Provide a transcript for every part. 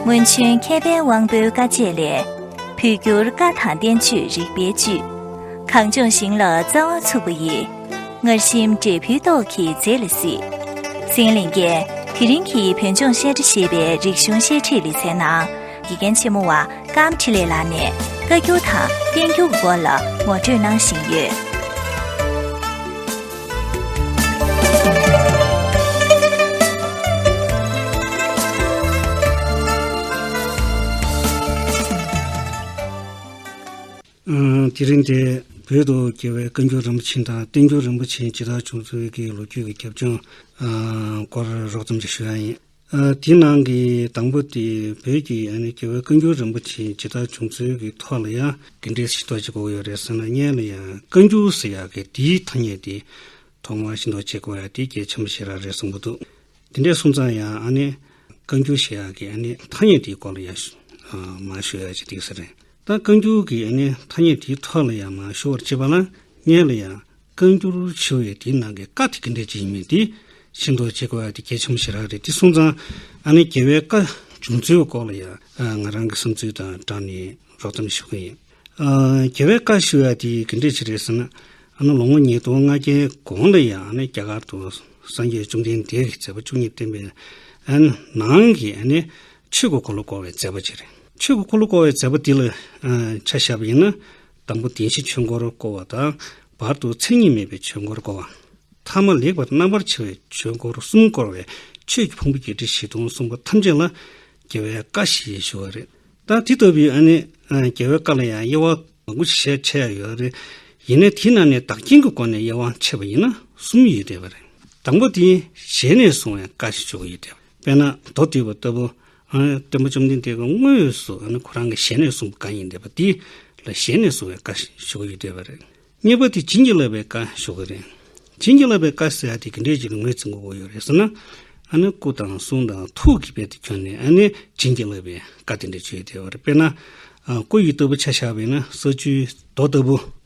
སྔོན་བྱོན་མཁས་པའི་དབང་པོའི་བཀའ་ཆད་ལས་བོད་འགྱུར་བཀའ་དང་བསྟན་བཅོས་རིག་པའི་བཅུད་གངས་ལྗོངས་ཞིང་ལ་རྩ་བ་ཚུགས་པ་ཡི་ངར་ཤིང་འབྲས་བུའི་ཏོག་གིས་མཛེས་ལ་སྲིད་སེང་གླིང་རྒྱལ་དེ་རིང་གི་བོད་ལྗོངས་བཤད་གྲྭ་ཞེས་པའི་རིག་གཞུང་བཤད་ཁྲིད་ལེ་ཚན་ནང་དགེ་རྒན་ཆེན་མོ་བ་ཀམ་ཁྲི་ལེ་ལགས་ནས་བཀའ་འགྱུར་དང་བསྟན་འགྱུར་གྱི་སྐོར་ལ་ངོ་སྤྲོད་གནང་བཞིན་ཡོད། དེ་རིང་འདིར་བོད་དུ་རྒྱལ་བའི་བཀའ་འགྱུར་རིན་པོ་ཆེ་དང་བསྟན་འགྱུར་རིན་པོ་ཆེ་ཇི་ལྟར་བྱུང་ཚུལ་གྱི་ལོ་རྒྱུས་ཀྱི་ཁྱབ་བྱང་སྐོར་རོགས་ཙམ་ཞིག་ཞུ་ཡག་ཡིན། དེའི་ནང་གི་དང་པོ་དེ་བོད་ཀྱི་རྒྱལ་བའི་བཀའ་འགྱུར་རིན་པོ་ཆེ་ཇི་ལྟར་བྱུང་ཚུལ་གྱི་ཐོག་ལ་ཡང། དེ་འདྲའི་ཤིང་ཏོག་ཅིག་གོ་ཡོད་རེད་ཟེར་ན་བརྙན་ལ་ཡང་བཀའ་འགྱུར་ཟེར་ཡག་གི་དེའི་ཐ་སྙད་དེ། ཐོག་མར་ཤིང་ཏོག་ཅེས་གོ་ཡག་དེ་རྒྱའི་ཆ་མི་ཤེས་ར་རེད་གསུངས་པོ་འདུག་དེ་འདྲས་གསུངས་ཙང་ཡང་ཨ་ནི། བཀའ་འགྱུར་ཞེས་ཡག་གི་ཨ་ནི་ཐ་སྙད་དེའི་སྐོར་ལ་ཡང། མ་ཤོད་ཡག་ཅིག་འདུག་ཟེར། ད་བཀའ་འགྱུར་གྱི་ཨ་ནི་ཐ་སྙད་དེའི་ཐོག་ལ་ཡང་མ་ཤོད་བར་བྱེད་པ་ན་བརྙན་ལ་ཡང། བཀའ་འགྱུར་ཆེ་བས་དེའི་ནང་གི་བཀའ་དེ་གི་འགྲེལ་བྱེད་ཡིན་མིན་དེ་ཤིན་ཏུ་གཅེས་དགོས་པ་དེ་གལ་ཆེན་པོ་ཞིག་རག་རེད་དེ་སོང་ཙང་ཨ་ནེ་རྒྱལ་བའི་བཀའ་བྱུང་ཚུལ་བའི་སྐོར་ལ་ཡང་ང་རང་གི་བསམ་ཚུལ་དང་སྦྲགས་ནས་རོགས་ཙམ་ཞུ་གི་ཡིན། རྒྱལ་བའི་བཀའ་ཞུ་བ་དེ་གི་འགྲེལ་བྱེད་རེད་ཟེར་ན་ཨ་ནེ་ལོ་ངོ་ཉིས་སྟོང་ལྔ་བརྒྱའི་གོང་ལ་ཡང་ཨ་ནེ་རྒྱ་གར་དུ་སངས་རྒྱས་བཅོམ་ལྡན་འདས་ཀྱི་མཛད་པ་བཅུ་གཉིས་བསྟན་པའི་ནང་གི་ཨ་ནེ་ཆོས་ཀྱི་འཁོར་ལོ་བསྐོར་བའི་མཛད་པ་གཅིག་རེད། ཆོས་ཀྱི་འཁོར་ལོ་བསྐོར་བའི་མཛད་པ་དེ་ལ་ཆ་བཞག་པ་ཡིན་ན་དང་པོ་བདེན་བཞི་ཆོས་འཁོར་བསྐོར་བ་དང། བར་དུ་མཚན་ཉིད་མེད་པའི་ཆོས་འཁོར་བསྐོར་བ། མཐའ་མ་ལེགས་པར་རྣམ་པར་ཕྱེ་བའི་ཆོས་འཁོར་གསུམ་བསྐོར་བས་ཆོས་ཀྱི་ཕུང་པོ་བརྒྱད་ཁྲི་བཞི་སྟོང་གསུངས་པ་ཐམས་ཅད་ལ་རྒྱལ་བའི་བཀའ་ཞེས་ཞུ་བ་རེད། ད་དེ་ལྟ་བུའི་ནི་རྒྱལ་བའི་བཀའ་ལ་ཡང་དབྱེ་བ་མང་པོ་ཞིག་བྱས་ཡོད་པ་རེད། ཡིན་ནས་དེ་རྣམས་ནི་བདག་རྐྱེན་གྱི་སྒོ་ནས་དབྱེ་བ་ཕྱེ་བ་ཡིན་ན་གསུམ་ཡོད་བསྡད་པ་རེད། དང་པོ་དེ་ཞལ་ནས་གསུང་བའི་བཀའ་ཞེས་བརྗོད་པ་ཡོད་བསྡད་པ། དཔེར་ན་མདོ་སྡེ་བ་ལྟ་བུ། སྟོན་པ་བཅོམ་ལྡན་འདས་ཀྱི་དངོས་སུ་ཁོ་རང་གི་ཞལ་ནས་གསུངས་པ་གང་ཡིན་འདས་པ་དེ་ལ་ཞལ་ནས་གསུངས་བའི་བཀའ་ཞུ་བ་ཡོད་འདས་པ་རེད། གཉིས་པ་དེ་བྱིན་གྱིས་བརླབས་པའི་བཀའ་ཞུ་བ་རེད། བྱིན་གྱིས་བརླབས་པའི་བཀའ་ཟེར་བ་དེ་དེ་འདྲའི་ཅིག་ངོས་ཚིག་མགོ་བོ་ཡོད་རེད་ཟེར་ན། སྐུ་དང་གསུང་དང་ཐུགས་ཀྱི་དཔལ་དུ་གྱུར་ནས་བྱིན་གྱིས་བརླབས་པའི་བཀའ་དེ་འདྲ་བྱོས་ཡོད་འདས་པ་རེད། དཔེར་ན། སྐུ་ཡི་སྟོད་བུ་ཆ་བཞག་པས་ན་ས་བཅུའི་མདོ་ལྟ་བུ།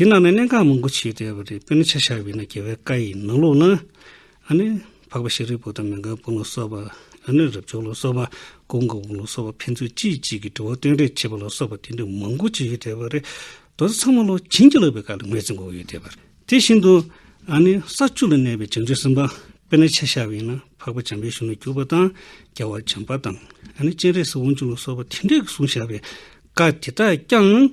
དེའི་ནང་ནས་གནད་འགག་མང་པོ་ཆེ་བསྡད་པ་རེད་དཔེར་ན་ཆ་བཞག་བས་ན་རྒྱལ་བའི་བཀའ་ཡི་ནང་ལུགས་ན། ཨ་ནི། འཕགས་པ་ཤཱ་རིའི་བུ་དང་མི་འགའ་དཔུང་ལ་སོགས་པ། ཨ་ནི་རབ་བྱུང་ལ་སོགས་པ། ཀུན་དགའ་བོ་ལ་སོགས་པ་ཕན་ཚུན་གཅིག་གཅིག་གི་དྲི་བ་སྟོན་རེས་བྱེད་པ་ལ་སོགས་པ་དེ་འདྲ་མང་པོ་ཆེ་ཡོད་བསྡད་པ་རེད། དོ་ཚང་མ་ལོ་བྱིན་གྱིས་བརླབས་པའི་བཀའ་ལ་ངོས་འཛིན་འགོག་ཡོད་བསྡད་པ་རེད། དེ་བཞིན་དུ། ཨ་ནི། ས་བཅུ་ལ་གནས་པའི་བྱང་ཆུབ་སེམས་དཔའ། དཔེར་ན་ཆ་བཞག་བས་ན་འཕགས་པ་བྱམས་པའི་གཞུང་ལ་གྱུར་པ་དང། རྒྱལ་བ་བྱམས་པ་དང། ཨ་ནི་སྤྱན་རས་གཟིགས་དབང་ཕྱུག་ལ་སོགས་པ་དེ་འདྲས་ཀྱི་གསུང་བཞག་པའི་བཀའ་དེ་དག་ཀྱང།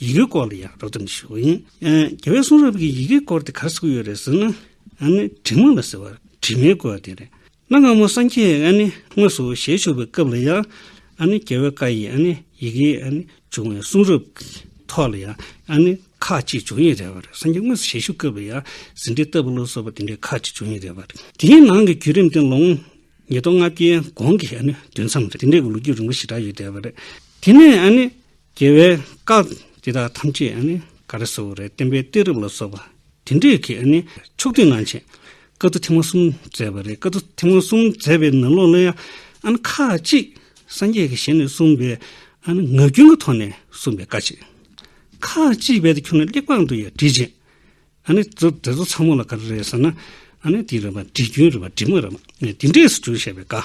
ཡི་གེའི་སྐོར་ལ་ཡང་རོགས་རམ་ཞུ་འོས། རྒྱལ་བའི་གསུང་རབ་ཀྱི་ཡི་གེའི་སྐོར་དེ་གར་གཟིགས་ཡོད་རེད་ཟེར་ན། དྲི་མ་ལ་ཟེར་བ་དྲི་མའི་སྐོར་དེ་རེད། གནའ་སྔ་མོ་སངས་རྒྱས་དངོས་སུ་ཞལ་བཞུགས་པའི་སྐབས་ལ་ཡང། རྒྱལ་བའི་བཀའ་ཡི་ཡི་གེ་འབྱུང་བའི་གསུང་རབ་ཀྱི་ཐོག་ལ་ཡང་ཁག་ཅིག་འབྱུང་ཡི་རེད་བ་རེད། སངས་རྒྱས་དངོས་སུ་ཞལ་བཞུགས་སྐབས་ལ་ཡང་ཟིན་བྲིས་བཏབ་ལུགས་སོགས་པ་དེ་འདྲའི་ཁག་ཅིག་འབྱུང་ཡི་རེད་བ་རེད། དེའི་ནང་གི་བརྒྱུད་རིམ་དེ་ལོ་ངོ་ཉིས་སྟོང་ལྔ་བརྒྱའི་གོང་གི་དུས་མཚམས་རེད། དེ་འདྲའི་གི་ལོ་རྒྱུས་རིང་པོ་ཞེ་དྲག་ཡོད་བསྡད་བ་རེད། དེ་ནས་རྒྱལ་བའི་བཀའ། འདི་དག་ཐམས་ཅད་ནི་ག་རེ་སོགས་རེད་བསྟན་པའི་གཏད་རིམ་ལ་སོགས་པ་དེ་འདྲས་ཀྱི་ཕྱོགས་སྒྲིག་གནང་ཆེད་བཀའ་བསྡུ་ཐེངས་མ་གསུམ་མཛད་པ་རེད་བཀའ་བསྡུ་ཐེངས་མ་གསུམ་མཛད་པའི་ནང་ལོགས་ལ་ཡང་ཁ་ཅིག་སངས་རྒྱས་ཀྱི་ཞལ་ནས་གསུངས་པའི་ངག་རྒྱུན་གྱི་ཐོག་ནས་གསུངས་པའི་བཀའ་ཅིག་ཁ་ཅིག་བེད་དུ་ཁྱོན་ནས་གླེགས་བམ་དུ་ཡང་བྲིས་རྗེས་དེ་ཚོ་ཚང་མ་ལ་ག་རེ་རེད་ཟེར་ན་འདི་རེད་བ་འབྲི་རྒྱུན་རེད་བ་འབྲི་མ་རེད་བ་འདི་འདྲས་སུ་བསྒྱུར་བྱས་པའི་བཀའ།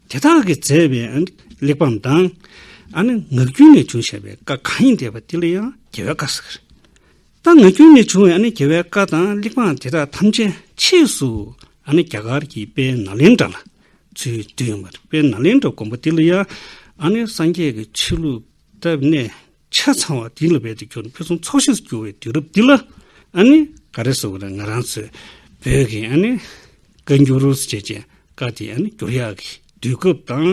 དེ་དག་གིས་མཛད་པའི་གླེགས་བམ་དང། ངག་རྒྱུན་ནས་བྱུང་བྱ་བའི་བཀའ་གང་ཡིན་བལྟས་པ་དེ་ལ་ཡང་རྒྱལ་བའི་བཀའ་ཟེར། ད་ངག་རྒྱུན་ནས་བྱུང་བའི་རྒྱལ་བའི་བཀའ་དང་གླེགས་བམ་དེ་དག་ཐམས་ཅད་ཕྱིས་སུ་རྒྱ་གར་གྱི་དཔལ་ནཱ་ལེནྡྲ་ལ་ཚུལ་བསྡུས་ཡོང་བར་དཔལ་ནཱ་ལེནྡྲ་མགོན་པོ་དེ་ལ་ཡང་སངས་རྒྱས་ཀྱི་ཆོས་ལུགས་བཏབ་ནས་ཆ་ཚང་བ་དེ་ལ་བས་དུ་གྱུར་ནས་ཕུན་སུམ་ཚོགས་ཤིང་སུ་གྱུར་བའི་དུས་རབས་འདི་ལ་ཨ་ནི་ག་རེ་བཟོ་གི་རེད་ང་རང་ཚོས་བོད་ཀྱི་ཨ་ནི་བཀའ་འགྱུར་རུས་ཚོ་བྱས་ཅན་བཀའ་དེ་ཨ་ནི་བསྒྱུར་ཡག་གི་དུས་སྐབས་དང་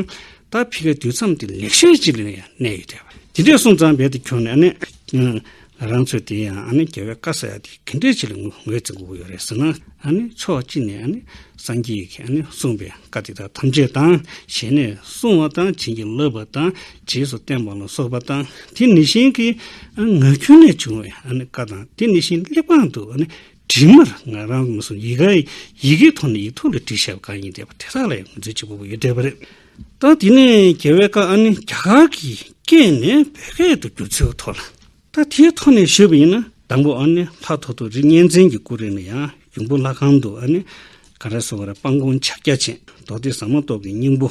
ད་ཕི་ཀའི་དུས་མཚམས་དེ་ལེགས་ཤོས་ཅིག་ལ་ཡང་གནས་ཡོད་དེ། དེ་འདྲས་སོང་ཙང་བས་དུ་གྱུར་ནས་ཨ་ནི་ང་རང་ཚོས་དེ་ཡང་ཨ་ནི་རྒྱལ་བའི་བཀའ་ཟེར་ཡག་དེ་གི་འདྲས་ཅིག་ལ་ངོས་འཛིན་དགོས་ཀྱི་ཡོད་རེད་ཟེར་ན་ཨ་ནི་ཕྱོགས་གཅིག་ནས་ཨ་ནི་སངས་རྒྱས་ཀྱིས་ཨ་ནི་གསུངས་པའི་བཀའ་དེ་དག་ཐམས་ཅད་དང་ཞལ་ནས་གསུངས་བ་དང་བྱིན་གྱིས་བརླབས་པ་དང་རྗེས་སུ་བསྟན་པ་ལ་སོགས་པ་དང་དེ་ནི་ཤིང་གི་ངག་རྒྱུན་ལས་བྱུང་བའི་བཀའ་དང་དེ་ནི་ཤིང་གླེགས་བམ་དུ་བྲིས་མར་ང་རང་མི་སྲུང་ཡི་གེ་ཡི་གེའི་ཐོག་ནས་ཡིག་ཐོག་ལས་བྲིས་ཞབས་གང་ཡིན་བསྡད་པ་དེ་དག་ལ་ཡང་མཛོད་ཅིག་པོ་པོ་ཡོད་བསྡད་པ་རེད། ད་དེ་ནས་རྒྱལ་བའི་བཀའ་ནི་རྒྱ་གར་གྱི་སྐད་ནས་བོད་སྐད་དུ་བསྒྱུར་ཚུལ་ཐོག་ལ་ད་དེའི་ཐོག་ནས་ཞུས་པ་ཡིན་ན་དང་པོ་ལྷ་ཐོ་ཐོ་རི་གཉན་བཙན་གྱི་སྐུ་རེ་ནས་ཡང་ཡུམ་བུ་ལྷ་ཁང་དུ་གངས་རི་སོགས་ལ་སྤང་གོང་ཕྱག་རྒྱ་ཆེན་མདོ་སྡེ་ཟ་མ་ཏོག་གི་སྙིང་པོ།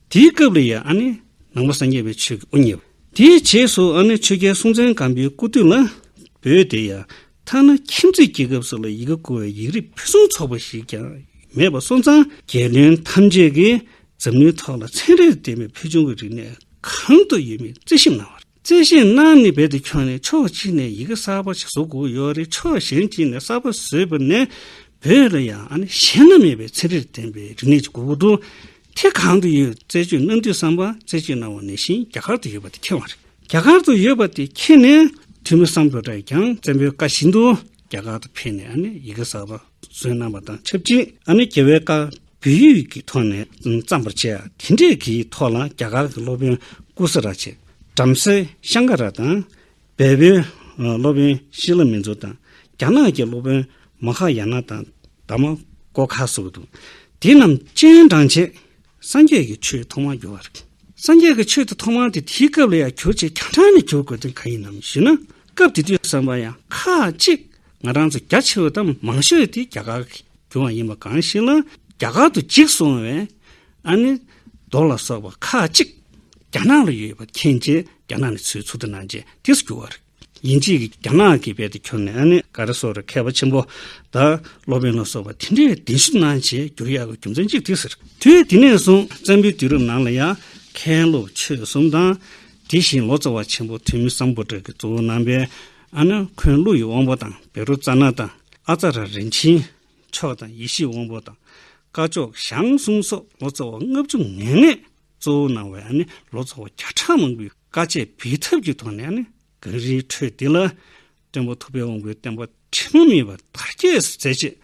དེའི་སྐབས་ལ་ཡང་ཨ་ནི་ནང་པ་སངས་རྒྱས་པའི་ཆོས་ཀྱི་དབུ་བརྙེས་པ། དེའི་རྗེས་སུ་ཨ་ནི་ཆོས་རྒྱལ་སྲོང་བཙན་སྒམ་པོའི་སྐུ་དུས་ལ་བོད་དེ་ཡང་ཐ་ན་ཁྱིམ་མཚེས་རྒྱལ་ཁབ་སོགས་ལ་ཡི་གེ་བཀོལ་བའི་ཡིག་རིགས་ཕུན་སུམ་ཚོགས་པ་ཞིག་ཀྱང་མེད་པར་སོང་ཙང་རྒྱལ་བློན་ཐམས་ཅད་ཀྱིས་འཛམ་གླིང་ཐོག་ལ་ཚན་རིག་ལྡན་པའི་ཕུལ་བྱུང་གི་རིག་གནས་གང་དུ་ཡོད་མེད་རྩིས་ཞིབ་གནང་བ་རེད། བརྩེ་བཞིན་སྣང་ནི་རྦད་དེ་ཁྱོད་ནི་ཕྱོགས་གཅིག་ནས་ཡི་གེ་གསར་པ་ཞིག་བཟོ་དགོས་ཡོད་རེད་ཕྱོགས་གཞན་གཅིག་ནས་གསར་པ་བཟོས་པ་ནས་བོད་ལ་ཡང་ཨ་ནེ་གཞན་ན་མེད་པའི་ཚན་རིག་ལྡན་པའི་རིག་གནས་ཅིག་དགོས་མཁོ་འདུག་དེ་གང་དུ་ཡོད་རྩད་གཅོད་གནང་དུས་བསམ་པ་རྩད་གཅོད་གནང་བ་ནས་བཞིན་རྒྱ་གར་དུ་ཡོད་པ་དེ་ཁེལ་བ་རེད་རྒྱ་གར་དུ་ཡོད་པ་དེ་ཁེལ་ནས་དུས་མི་སམ་བོད་དྲ་ཀྱང་བཙན་པོའི་བཀའ་བཞིན་དུ་རྒྱ་གར་དུ་ཕེབས་ནས་ཨ་ནེ་ཡི་གེ་གསར་པ་བཟོས་གནང་བ་དང་ཆབས་ཅིག་ཨ་ནེ་རྒྱལ་བའི་བཀའ་བོད་ཡིག་གི་ཐོག་ནས་བརྩམས་པར་བྱས། དེ་འབྲེལ་གྱི་ཐོག་ལ་རྒྱ་གར་གྱི་སློབ་དཔོན་ཀུ་སི་ར་ཆེ། བྲམ་ཟེ་ཤང་ཀ་ར་དང། བལ་བོའི་སློབ་དཔོན་ཤི་ལ་མི་མཛོ་དང། རྒྱ་ནག་གི་སློབ་དཔོན་མ་ཧ་ཡ་ན་དང་དཱ་མ་ཀོ་ཁ་སོགས་ཀྱི་འདུག། དེ་རྣམས་སྤྱན་དྲངས་རྗེས། སངས་རྒྱས་ཀྱི་ཆོས་ཐོག་མར་གྱུར་བ་རེད། སངས་རྒྱས་ཀྱི་ཆོས་དེ་ཐོག་མར་དེ་དེའི་སྐབས་ལ་ཡང་གྱུར་ཅིག་གྱང་ཁྲ་ནས་གྱུར་དགོས་དོན་གང་ཡིན་ནམ་ཞུས་ན། སྐབས་དེ་དུས་བསམ་པ་ཡང་ཁག་གཅིག་ང་རང་ཚོ་རྒྱ་ཆེ་བ་དང་མང་ཤོས་དེ་རྒྱ་གར་གྱི་རྒྱུ་བ་ཡིན་པ་གང་ཞིག་ལ་རྒྱ་གར་དུ་འཇིག་སོང་བས་ཨ་ནི་རྡོ་ལ་སོགས་པ་ཁག་གཅིག་རྒྱ་ནག་ལ་ཡོད་པ་མཁྱེན་རྗེས་རྒྱ་ནག་ནས་ཚུར་ཚུར་དུ་གནང་རྗེས་དེ་སུ་རྒྱུ་བ་རེད། ཡིན་རྗེས་ཀྱི་རྒྱ་ནག་གི་དཔལ་དེ་ཁྱོར་ནས་ཨ་ནི་ག་རེ་སོགས་རེད་མཁས་པ་ཆེན་པོ་དང་སློབ་དཔོན་ལ་སོགས་པ་དེ་འདྲས་གདན་ཞུ་གནང་རྗེས་བསྒྱུར་ཡག་གི་རྒྱུ་མཚན་གཅིག་དེ་ཟེར། དུས་དེ་ནས་བཟུང་བཙན་པོའི་དུས་རབས་ནང་ལ་ཡང་མཁན་སློབ་ཆོས་གསུམ་དང། དེ་བཞིན་ལོ་ཙཱ་བ་ཆེན་པོ་ཐོན་མི་བཟང་པོ་དག་གི་གཙོ་བོ་རྣམ་པས་ཨ་ནུ་འཁོན་ཀླུ་ཡི་དབང་པོ་དང་བེ་རུ་ཙཱ་ན་དང་ཨ་ཙཱ་ར་རིན་ཆེན་མཆོག་དང་ཡེ་ཤེས་དབང་པོ་དང་སྐ་ཅོག་ཞང་གསུམ་སོགས་ལོ་ཙཱ་བ་ལྔ་བཅུ་ང་ལྔས་གཙོ་བོར་གནང་བའི་ལོ་ཙཱ་བ་བརྒྱ་ཕྲག་མང་པོའི་བཀའ་ཆད་འབེལ་ཐབས་ཀྱི་ཐོག་ནས་གངས་རིའི་ཁྲོད་འདི་ལ་དཔོན་པོ་ཐུབ་པའི་དབང་པོའི་བསྟན་པ་དྲི་མ་མེད་པར་དར་རྒྱས་སུ་མཛད་ཅེས་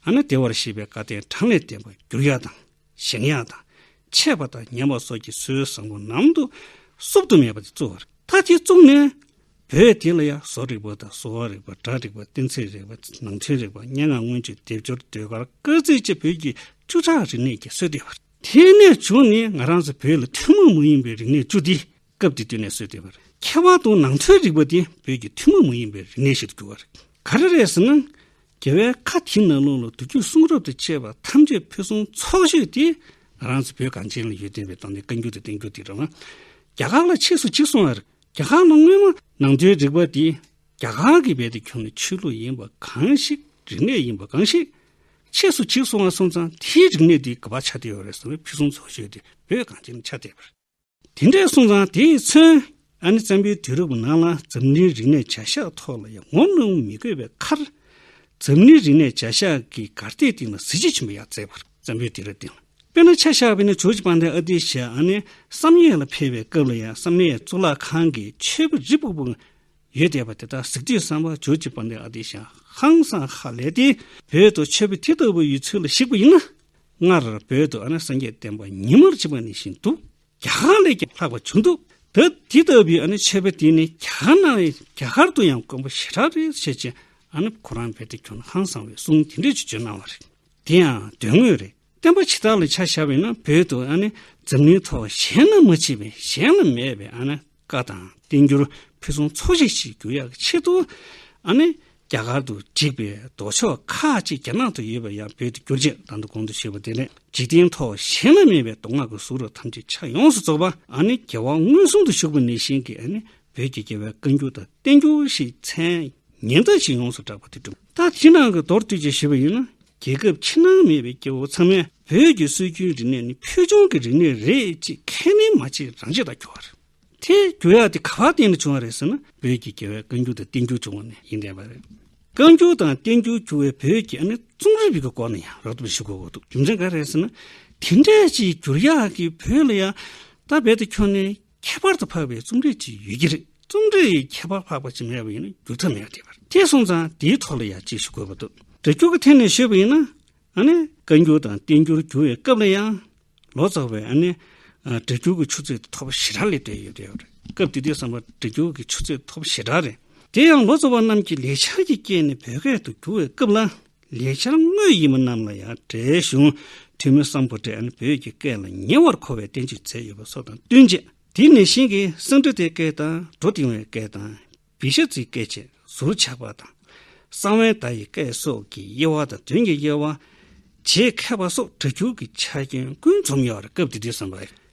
ཨ་ན་བདེ་བར་གཤེགས་པའི་བཀའ་བསྟན་གྲངས་ལས་བསྟན་པ་འགྱུར་ཡག་དང། གཞན་ཡང་དང། ཆད་པ་དང་ཉམས་པ་སོགས་ཀྱི་སྲོལ་བཟང་པོ་ནང་དུ་གསུབ་ཏུ་མེད་པ་དེ་གཙོ་བོ་རེད། མཐའ་དེ་བཙུགས་ནས། བོད་དེ་ལ་ཡང་བཟོ་རིག་པ་དང་གསོ་བ་རིག་པ་སྒྲ་རིག་པ་གཏན་ཚིགས་རིག་པ་ནང་ཚན་རིག་པ་སྙན་ངག་སྔོན་བྱོན་སྡེབ་སྦྱོར་ཟློས་གར་སྐར་རྩིས་བཅས་བོད་ཀྱི་བཅུ་ཕྲག་རིག་གནས་ཀྱི་སྲོལ་བཏོད་པ་རེད། དེ་ནས་བྱུང་ནས་ང་རང་ཚོ་བོད་ལ་ཐུན་མོང་མ་ཡིན་པའི་རིག་གནས་བཅུ་འདི་སྐབས་དེ་དུས་ནས་བཟོས་ཏེ། ཁྱད་པར་དུ་ནང་ཆོས་རིག་པ་དེ་བོད་ཀྱི་ཐུན་མོང་མ་ཡིན་པའི་རིག་གནས་ཤིག་ཏུ་གྱུར་བ་རེད། ག་རེ་རེད་ཟེར་ན། རྒྱལ་བའི་ཁ་དེའི་ནང་ལུང་ལ་དུར་རྒྱུད་གསུང་རབ་ཏུ་བཅས་པ་ཐམས་ཅད་ཕུན་སུམ་ཚོགས་ཤིག་དེ་ང་རང་ཚོ་བོད་གངས་ཅན་ལ་ཡོད་བསྟན་པའི་དོན་དེ་བཀའ་འགྱུར་དུ་བསྟན་རྒྱུ་དེ་རང་རང་རྒྱ་གར་ལ་ཆས་སུ་འཇིག་སོང་བ་རེད། རྒྱ་གར་ནང་སྔོན་མ་ནང་ཆོས་རིག་པ་དེ་རྒྱ་གར་གྱི་བལ་དུ་གྱུར་ནས་ཆོས་ལུགས་ཡིན་པ་གང་ཞིག་རིག་གནས་ཡིན་པ་གང་ཞིག་ཆས་སུ་འཇིག་སོང་བ་སོང་ཙང་དེའི་རིག་གནས་དེ་ག་བར་ཆགས་བསྡད་ཡོད་རེད་ཟེར་བས་ཕུན་སུམ་ཚོགས་ཤིག་དེ་བོད་གངས་ཅན་ལ་ཆགས་བསྡད་པ་རེད། དེ་འདྲའི་གསུང་རང་དེས་མཚོན། ཨ་ནེ་བཙན་པོའི་དུས་རབས་ནང་ལ་འཛམ་གླིང་རིག་གནས་བྱ་གཞག་ཐོག་ལ་ཡང་ངོ་གནོང་མི་དགོས་པའི་ཁར། འཛམ་གླིང་རིག་གནས་བྱ་གཞག་གི་གར་སྟེགས་སྟེང་ལ་གཟི་བརྗིད་ཆེན་པོ་ཡང་བསྩལ་བར་བཙན་པོའི་དུས་རབས་སྟེང་ལ། དཔེར་ན་ཆ་ཤ་བྷི་ནི་ཇོརཇ་པཱ་ནེ་ཨ་ཏི་ཞེས་ཨ་ནེ་བསམ་ཡས་ལ་ཕེབས་པའི་སྐབས་ལ་ཡང་བསམ་ཡས་གཙུག་ལག་ཁང་གི་ཆོས་པ་རི་སྤུག་པོ་ཡོད་བསྡད་པ་དེ་དག་གཟིགས་དུས་བསམ་པ་ཇོརཇ་པཱ་ནེ་ཨ་ཏི་ཞེས་ཧང་སངས་ཧ་ལས་ཏེ་བོད་དུ་ཆོས་པ་དེ་ལྟ་བུ་ཡོད་ཚུལ་ལ་གཞིགས་པ་ཡིན་ན། སྔར་བོད་དུ་ཨ་ནེ་སངས་རྒྱས་བསྟན་པ་ཉིན་མོར་བྱེད་པ་ནི་བཞིན་དུ་རྒྱ་གར་ལས་ཀྱང་ལྷག་པ་བྱུང་འདུག་ད་དེ་ལྟ་བུའི་ཨ་ནེ་འཆད་པའི་དུས་ནི་རྒྱ་གར་ནང་བས་རྒྱ་གར་དུ་ཡང་དཀོན་པོ་ཞེ་དྲག་རེད་བཤད་ཅེས་ཨ་ནེ་ཁོ་རང་བལ་ཏི་ཁྱོ་ན་ཧང་སང་བའི་གསུང་དེ་འདྲས་ཀྱི་བརྗོད་གནང་བ་རེད། དེ་ཡང་དོན་དངོས་རེད། བསྟན་པ་ཇི་ལྟར་ལ་ཆ་བཞག་པས་ན་བོད་དུ་ཨ་ནེ་འཛམ་གླིང་ཐོག་གཞན་ན་མ་མཆིས་པས་གཞན་ལ་མེད་པས་ཨ་ནེ། བཀའ་དང་བསྟན་འགྱུར་ཕུན་སུམ་ཚོགས་ཤིག་ཞིག་འགྱུར་ཡག་གི་ཆེད་དུ། ཨ་ནི། རྒྱ་གར་དུ་བསྒྲིགས་པའི་མདོ་ཕྱོགས་ཁ་ཅིག་རྒྱ་ནག་ཏུ་ཡོད་པ་ཡང་བོད་དུ་བསྒྱུར་རྗེས་དང་དུ་གོང་དུ་ཞུས་པ་དེ་ནས་འཇིག་རྟེན་ཐོག་གཞན་ན་མེད་པའི་མདོ་སྔགས་ཀྱི་གཟུགས་རབ་ཐམས་ཅད་ཆ་ཡོངས་སུ་རྫོགས་པ་ཨ་ནི་རྒྱལ་བ་མངོན་སུམ་དུ་བཞུགས་པ་ནས་གཞན་གྱི་ཨ་ནི་བོད་ཀྱི་རྒྱལ་བའི་བཀའ་འགྱུར་དང་བསྟན་འགྱུར་ཞེས་མཚན་སྙན་དག་ཅིག་ཡོངས་སུ་བསྒྲགས་པ་དེ་གྲུབ། ད་ཕྱི་ནང་གི་མདོར་བསྡུས་ཀྱིས་ཞུ་བ་ཡིན་ན་རྒྱལ་ཁབ་ཕྱི་ནང་མེད་པའི་སྐྱེ་བོ་ཚང་མས་བོད་ཀྱི་སྲོལ་རྒྱུན་རིག་གནས་ནི་ཕུལ་བྱུང་གི་རིག་གནས་རེད་ཅེས་ཁས་ལེན་མ་བྱེད་རང་བྱེད་དང་འགྱུར་བ་རེད། དེ་འགྱུར་ཡག་དེ་ག་བ་བརྟེན་ནས་བྱུང་བ་རེད་ཟེར་ན་བོད་ཀྱི་རྒྱལ་བའི་བཀའ་འགྱུར་དང་བསྟན་འགྱུར་བྱུང་བ་ནས་ཡིན་དྲན་པ་རེད། བཀའ་འགྱུར་དང་བསྟན་འགྱུར་བྱུང་བའི་བོད་ཀྱི་ཨ་ནེ་རྩོམ་རིག་གི་སྐོར་ནས་ཡང་རགས་ཐུབ་ལ་ཞུ་དགོས་འོ་འདུག་རྒྱུ་མཚན་ག་རེད་ཟེར་ན་དེ་འདྲའི་ཅིག་འགྱུར་ཡག་གིས་བོད་ལ་ཡང་ད་རྦད་དེ་ཁྱོན་ནས་ཁྱད་པར་དུ་འཕགས་པའི་རྩོམ་རིག་ཅིག་ཡོད་ཀྱི་རེད། རྩོམ་རིག་ཡི་ཁྱད་པར་འཕགས་པ་ཅིག་མེད་པ་ཡིན་ན་བསྒྱུར་ཐབས་མེད་རེད། དེ་སོང་ཙང་དེའི་ཐོག་ལ་ཡང་ཅིག་ཞུ་དགོས་པ་འདུག་འདྲ་སྐྱུར་གྱི་ཐད་ནས་ཞུས་པ་ཡིན་ན། ཨ་ནི། བཀའ་འགྱུར་དང་བསྟན་འགྱུར་བསྒྱུར་བའི་སྐབས་ལ་ཡང། ལོ་ཙཱ་བས་ཨ་ནི། འདྲ་སྐྱུར་གྱི་ཆུ་ཚད་དེ་ཐོབ་པ་ཞེ་དྲག་ལས་འདས་ཡོད་རེད། སྐབས་དེ་དུས་བསམ་པར་འདྲ་སྐྱུར་གྱི་ཆུ་ཚད་ཐོབ་པ་ཞེ་དྲག་རེད། དེ་ཡང་ལོ་ཙཱ་བ་རྣམས་ཀྱིས་ལེགས་ཆ་གྱིས་བསྐྱེད་ནས་བོད་སྐད་དུ་བསྒྱུར་བའི་སྐབས་ལ། ལས་འཆར་དངོས་ཡིན་པ་རྣམས་ལ་ཡང་བགྲེས་གཞུང་འཐུས་མི་སམ་བུ་བགྲེས་ཨན་བོད་ཀྱི་སྐད་ལ་ཉེ་བར་མཁོ་བའི་བསྟན་བཅོས་མཛད་ཡོད་པ་སོགས་དང་བསྟུན་རྗེས་དེ་ནས་གཞན་གྱི་གསང་འདུས་ཏའི་སྐད་དང་བྲོ་ལྡིང་བའི་སྐད་དང་བི་ཤ་ཙིའི་སྐད་བཅས་ཟུར་ཆག་པ་དང། གསང་བའི་བརྡ་ཡི་སྐད་སོགས་ཀྱི་དབྱེ་བ་དང་དོན་གྱི་དབྱེ་བ། བྱེད་མཁས་པ་སོགས་གྲྭ་རྒྱུགས་ཀྱི་ཆ་རྐྱེན་ཀུན་འཛོམས་ཡོད་སྐབས་དེ་དུས་བསམ་པ་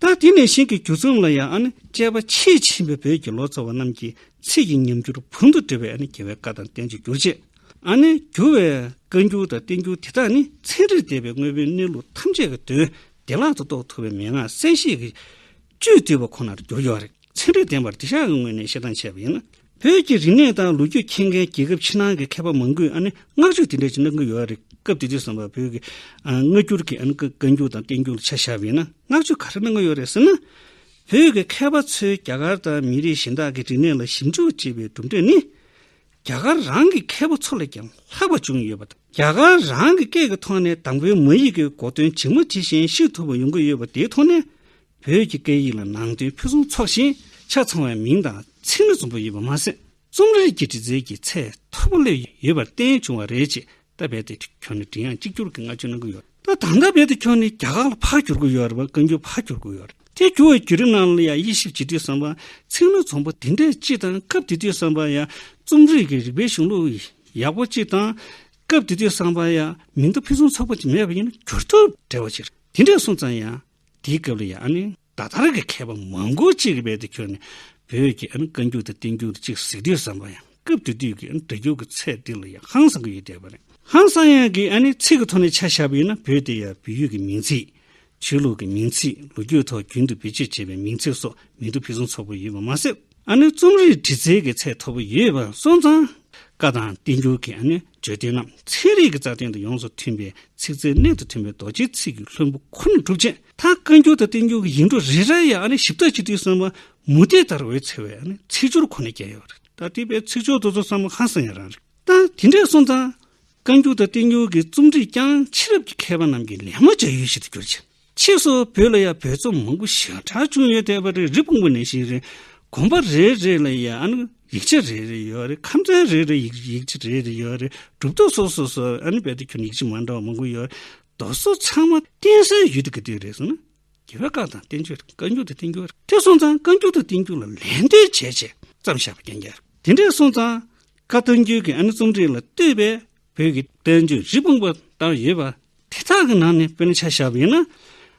ད་དེ་ནས་གཞན་གྱི་སྒྱུ་རྩོམ་ལ་ཡང་དཔྱད་པ་ཆེས་ཆེན་པོས་བོད་ཀྱི་ལོ་ཙཱ་བ་རྣམས་ཀྱིས་ཚིག་གི་ཉམས་འགྱུར་བུམ་དུ་འགྲེལ་བའི་རྒྱལ་བའི་བཀའ་དང་བསྟན་བཅོས་བསྒྱུར་བྱེད། བསྒྱུར་བའི་བཀའ་འགྱུར་དང་བསྟན་འགྱུར་དེ་དག་ནི་ཚན་རིག་སྡེ་པའི་དངོས་པོའི་གནས་ལུགས་ཐམས་ཅད་ཀྱི་དོན་བདེ་བླག་ཏུ་རྟོགས་ཐུབ་པའི་མན་ངག་གསལ་བཤད་ཀྱི་བཅུད་བསྡུས་པ་ཁོ་ནར་གྱུར་ཡོད། ཚན་རིག་ལྡན་པར་འདི་བཞག་གི་ངོས་ནས་བཤད་སྟངས་འཆད་པ་ཡིན་ན། བོད་ཀྱི་རིག་གནས་དང་ལོ་རྒྱུས་མཁྱེན་མཁན་རྒྱལ་ཁབ་ཕྱི་ནང་གི་མཁས་པ་མང་པོས་བསྔགས་བརྗོད་དེ་འདྲ་ཅིག་གནང་གི་ཡོད་རེད། སྐབས་དེ་དུས་སམ་བོད་ཀྱི་སྔ་འགྱུར་གྱི་བཀའ་འགྱུར་དང་བསྟན་འགྱུར་ལ་ཆ་བཞག་པས་ན་བསྔགས་བརྗོད་ག་རེ་གནང་གི་ཡོད་རེད་ཟེར་ན། བོད་ཀྱི་མཁས་པ་ཚོས་རྒྱ་གར་དང་མི་རིགས་གཞན་དག་གི་རིག་གནས་ལ་ཞིབ་འཇུག་བྱས་པའི་གྲུབ་འབྲས་ནི། རྒྱ་གར་རང་གི་མཁས་པ་ཚོ་ལས་ཀྱང་ལྷག་པ་བྱུང་ཡོད་པ་དང། རྒྱ་གར་རང་གི་སྐད་ཀྱི་ཐོག་ནས་དང་པོའི་མ་ཡིག་གི་འགོ་དོན་ཇི་མ་ཇི་བཞིན་ཤེས་ཐུབ་པ་ཡོང་གི་ཡོད་པ་དེའི་ཐོག་ནས། བོད་ཀྱི་སྐད་ཡིག་ལ་ནང་དོན་ཕུན་སུམ་ཚོགས་ཤིང་ཆ་ཚང་བའི་མིང་དང་ཚིག་སྣ་འཛོམས་པོ་ཡོད་པ་མ་ཟད་རྩོམ་རིག་གི་འབྲི་རྩལ་གྱི་ཚད་མཐོ་པོ་སླེབས་ཡོད་པར་བརྟེན་བྱུང་བ་རེད་ཅེས་རྟ་རྦད་དེ་ཁྱོན་ནས་མགྲིན་དབྱངས་གཅིག་གྱུར་གྱིས་བསྔགས་བརྗོད་གནང་གི་ཡོད། ད་ལྟ་རྟ་རྦད་དེ་ཁྱོན་ནས་རྒྱ་གར་ལ་ཕར་བསྒྱུར་གྱི་ཡོད་རེད་པ་བཀའ་འགྱུར་ཕར་བསྒྱུར་གྱི་ཡོད་རེད་དེ་བསྒྱུར་བའི་བརྒྱུད་རིམ་ནང་ལ་ཡང་དབྱེ་ཞིབ་བྱེད་དུས་བསམ་པ་ཚིག་སྣ་འཛོམས་པོ་འདི་འདྲ་གཅིག་དང་སྐབས་དེ་དུས་བསམ་པ་ཡང་རྩོམ་རིག་གི་རིག་པའི་གཞུང་ལུགས་ཡག་པོ་གཅིག་དང། སྐབས་དེ་དུས་བསམ་པ་ཡང་མིང་བརྡ་ཕུན་སུམ་ཚོགས་པོ་གཅིག་མེད་པ་ཡིན་ན་བསྒྱུར་ཐབས་བྲལ་བ་ཞིག་རེད་དེ་འདྲས་སོང་ཙང་ཡང། དེའི་སྐབས་ལ་ཡང་ནི། ད་ལྟར་གྱི་མཁས་པ་མང་པོ་གཅིག་གི་དཔལ་དུ་གྱུར་ནས། བོད་ཀྱི་བཀའ་འགྱུར་དང་བསྟན་འགྱུར་གཅིག་གཟིགས་དུས་བསམ་པ་ཡང་སྐབས་དེ་དུས་ཀྱི་འབྲི་འགྱུར་གྱི་ཚད་འདི་ལ་ཡང་ཧང་སང་གི་ཡུལ་བསྟན་པ་རེད། ཧང་སང་ཡང་གི་ཚིག་གི་ཐོག་ནས་ཆ་བཞག་པ་ཡིན་ན་བོད་དེ་ཡང་བོད་ཡུལ་གྱི་མིང་ཚིག། ཆོས་ལུགས་ཀྱི་མིང་ཚིག་ལོ་རྒྱུས་ཐོག་རྒྱུན་དུ་བེད་སྤྱོད་བྱས་པའི་མིང་ཚིག་སོགས་མིང་དུ་ཕུན་སུམ་ཚོགས་པོ་ཡོད་པ་མ་ཟད། རྩོམ་རིག་འབྲི་རྩལ་གྱི་ཚད་མཐོ་པོ་ཡོད་པ་སོགས་མཚང། བཀའ་དང་བསྟན་འགྱུར་གྱི་བརྗོད་དོན་རྣམས་ཚན་རིག་གི་རྩ་དོན་དང་ཡོངས་སུ་མཐུན་པའི་ཚིག་རྩལ་གནད་དུ་ཐོན་པའི་རྡོ་རྗེའི་ཚིག་གི་ལྷུན་པོ་ཁོ་ནས་གྲུབ་ཅིང་མཐར་བཀའ་འགྱུར་དང་བསྟན་འགྱུར་གྱི་ཡིག་འབྲུ་རེ་རེར་ཡང་ཞིབ་ཚགས་གཅིག་སྡུད་གསང་བ་མུ་སྟེགས་ལྟར་འོད་འཚེར་བའི་ཚིག་སྦྱོར་ཁོ་ནས་བསྐྱལ་ཡོད་རེད། ད་ལྟའི་བར་ཚིག་སྦྱོར་འདི་ཚོ་བསམ་བློ་ཧ་སང་ཡང་རང་རེད། ད་དེ་འདྲའི་སོང་ཙང། བཀའ་འགྱུར་དང་བསྟན་འགྱུར་གྱི་རྩོམ་སྒྲིག་ཀྱང་ཕྱི་རབས་ཀྱི་མཁས་པ་རྣམས་ཀྱིས་ལད་མོ་བྱ་ཡུལ་ཞིག་ཏུ་གྱུར་ཅིང། ཕྱིས་སུ་བོད་ལ་ཡང་བོད་རྩོམ་མང་པོ་ཞིག་གྲགས་བྱུང་ཡོད་དེ་བ་རེ་རེ་སྤུངས་པ་ནས་ཤིག་རེད། དགོན་པ་རེ་རེ་ལ་ཡང་ཡིག་ཆ་རེ་རེ་ཡོད་རེད་ཁམས་ཚན་རེ་རེ་ཡིག་ཡིག་ཆ་རེ་རེ་ཡོད་རེད་གྲུབ་ཐོབ་སོ་སོ་སོ་བེད་སྤྱོད་ཁྱོན་ཡིག་ཆ་མ་འདྲ་བ་མང་པོ་ཡོད་རེད། དོ་སོ་ཚང་མ་བསྟན་སའི་ཡུལ་དུ་གི་དུས་རེད་སོང་ན། དགེ་བའི་བཀའ་དང་བསྟན་བཅོས་རེད་བཀའ་འགྱུར་དང་བསྟན་འགྱུར་རེད་དེ་སོང་ཙང་བཀའ་འགྱུར་དང་བསྟན་འགྱུར་ལ་ལན་ལྡོན་བྱས་བྱས་ཙམ་བཞག་པ་རྐྱང་རྐྱང་རེད་དེ་འདྲས་སོང་ཙང་བཀའ་བསྟན་འགྱུར་གྱི་ཨ་ནི་རྩོམ་རིག་ལ་ལྟོས་པའི་བོད་ཀྱི་བསྟན་བཅོས་རི་སྤུངས་པ་ལྟར་ཡོད་པ་དེ་དག་གི་ནང་ནས་དཔེར་ན་ཆ་ཞབས་ཡིན་ན་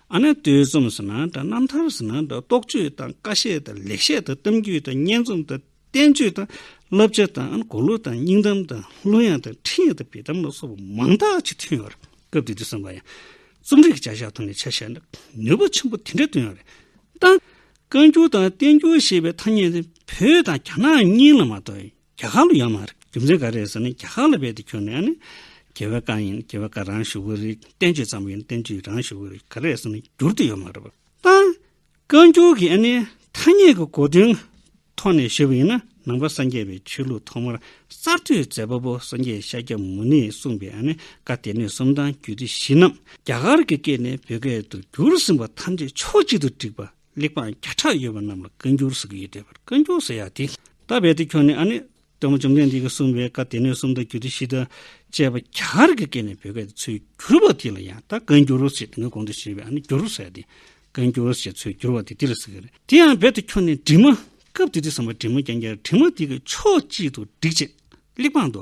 ཨ་ནེ་ཏོའི་རྩོམ་ཟེར་ན་འདྲ་རྣམ་ཐར་ཟེར་ན་འདྲ་རྟོགས་བརྗོད་དང་བཀའ་བཤད་དང་ལེགས་བཤད་དང་གཏམ་རྒྱུད་དང་སྙན་རྩོམ་དང་བསྟན་བཅོས་དང་བསླབ་བྱ་དང་ཨ་ནེ་གོ་ལོ་དང་སྙིང་གཏམ་དང་གླུ་དབྱངས་དང་འཕྲིན་ཡིག་དང་བེ་དམ་ལ་སོགས་པ་མང་དག་ཅིག་ཐོན་ཡོད་པ་རེད་སྐབས་དེ་དུས་བསམ་པ་ཡང། རྩོམ་རིག་གི་བྱ་བཞག་ཐོག་ནས་ཆ་ཞབས་འདྲ་ནུས་པ་ཆེན་པོ་དེ་འདྲ་ཐོན་ཡོད་པ་རེད་ད། བཀའ་འགྱུར་དང་བསྟན་འགྱུར་ཞེས་པའི་ཐ་སྙད་འདི་བོད་དང་རྒྱ་ནག་གཉིས་ལ་མ་གཏོགས་གྱ་གང་ལ་ཡོད་མ་རེད་རྒྱུ་མཚན་ག་རེད་ཟེར་ན་གྱ་གང་ལ་རྦད་དེ་ཁྱོད་ནས་ནི། གྱི་བའི་བཀའ་ཡིན་གྱི་བའི་བཀའ་རང་ཞུ་གི་རེད་བསྟན་བཅོས་ཙམ་ཡིན་བསྟན་བཅོས་རང་ཞུ་གི་རེད་ག་རེད་ཟེར་ན་འགྱུར་དུ་ཡོད་མ་རེད་བསྟན། བཀའ་འགྱུར་གྱི་ཨ་ནི་ཐ་སྙད་ཀྱི་གོ་དོན་ཐོག་ནས་ཞུས་པ་ཡིན་ན་ནང་པ་སངས་རྒྱས་པའི་ཆོས་ལུགས་ཐོག་མར་གསར་གཏོད་མཛད་པ་པོ་སངས་རྒྱས་ཤཱཀྱ་མུ་ནེས་གསུངས་པའི་ཨ་ནི་བཀའ་སྡེ་སྣོད་གསུམ་དང་རྒྱུད་སྡེ་བཞི་རྣམས་རྒྱ་གར་གྱི་སྐད་ནས་བོད་སྐད་དུ་བསྒྱུར་ཟིན་པ་ཐམས་ཅད་ཕྱོགས་གཅིག་ཏུ་བསྒྲིགས་པ། གླེགས་བམ་བརྒྱ་ཕྲག་ཡོད་པ་རྣམས་ལ་བཀའ་འགྱུར་ཟེར་གྱི་ཡོད་དྲན་པར་བཀའ་འགྱུར་ཟེར་ཡག་དེ། ད་རྦད་དེ་ཁྱོད་ནི་ཨ་ནི། དཔོན་པོ་བཅོམ་ལྡན་འདས་ཀྱིས་གསུངས་པའི་བཀའ་སྡེ་སྣོད་གསུམ་དང་རྒྱུད་སྡེ་བཞི་དང་བཅས་པ་རྒྱ་གར་གྱི་སྐད་ནས་བོད་སྐད་དུ་འཚོལ་བསྒྱུར་བ་དེ་ལ་ཡང་ད་བཀའ་འགྱུར་ཞེས་དེ་སྔའི་གོང་དུ་བཤད་པའི་ཨ་ནི་འགྱུར་ཟེར་ཏེ། བཀའ་འགྱུར་ཞེས་འཚོལ་བསྒྱུར་བ་དེ་འདི་ལ་ཟེར་གྱི་རེད། དེ་ཡང་རྦད་དེ་ཁྱོད་ནི་དྲི་མ། སྐབས་དེ་དུས་སམ་བ་དྲི་མ་རྒྱན་རྒྱལ་གྱིས་དྲི་མ་དེ་གི་ཕྱོགས་གཅིག་ཏུ་བསྒྲིགས་རྗེས། གླེགས་བམ་དུ།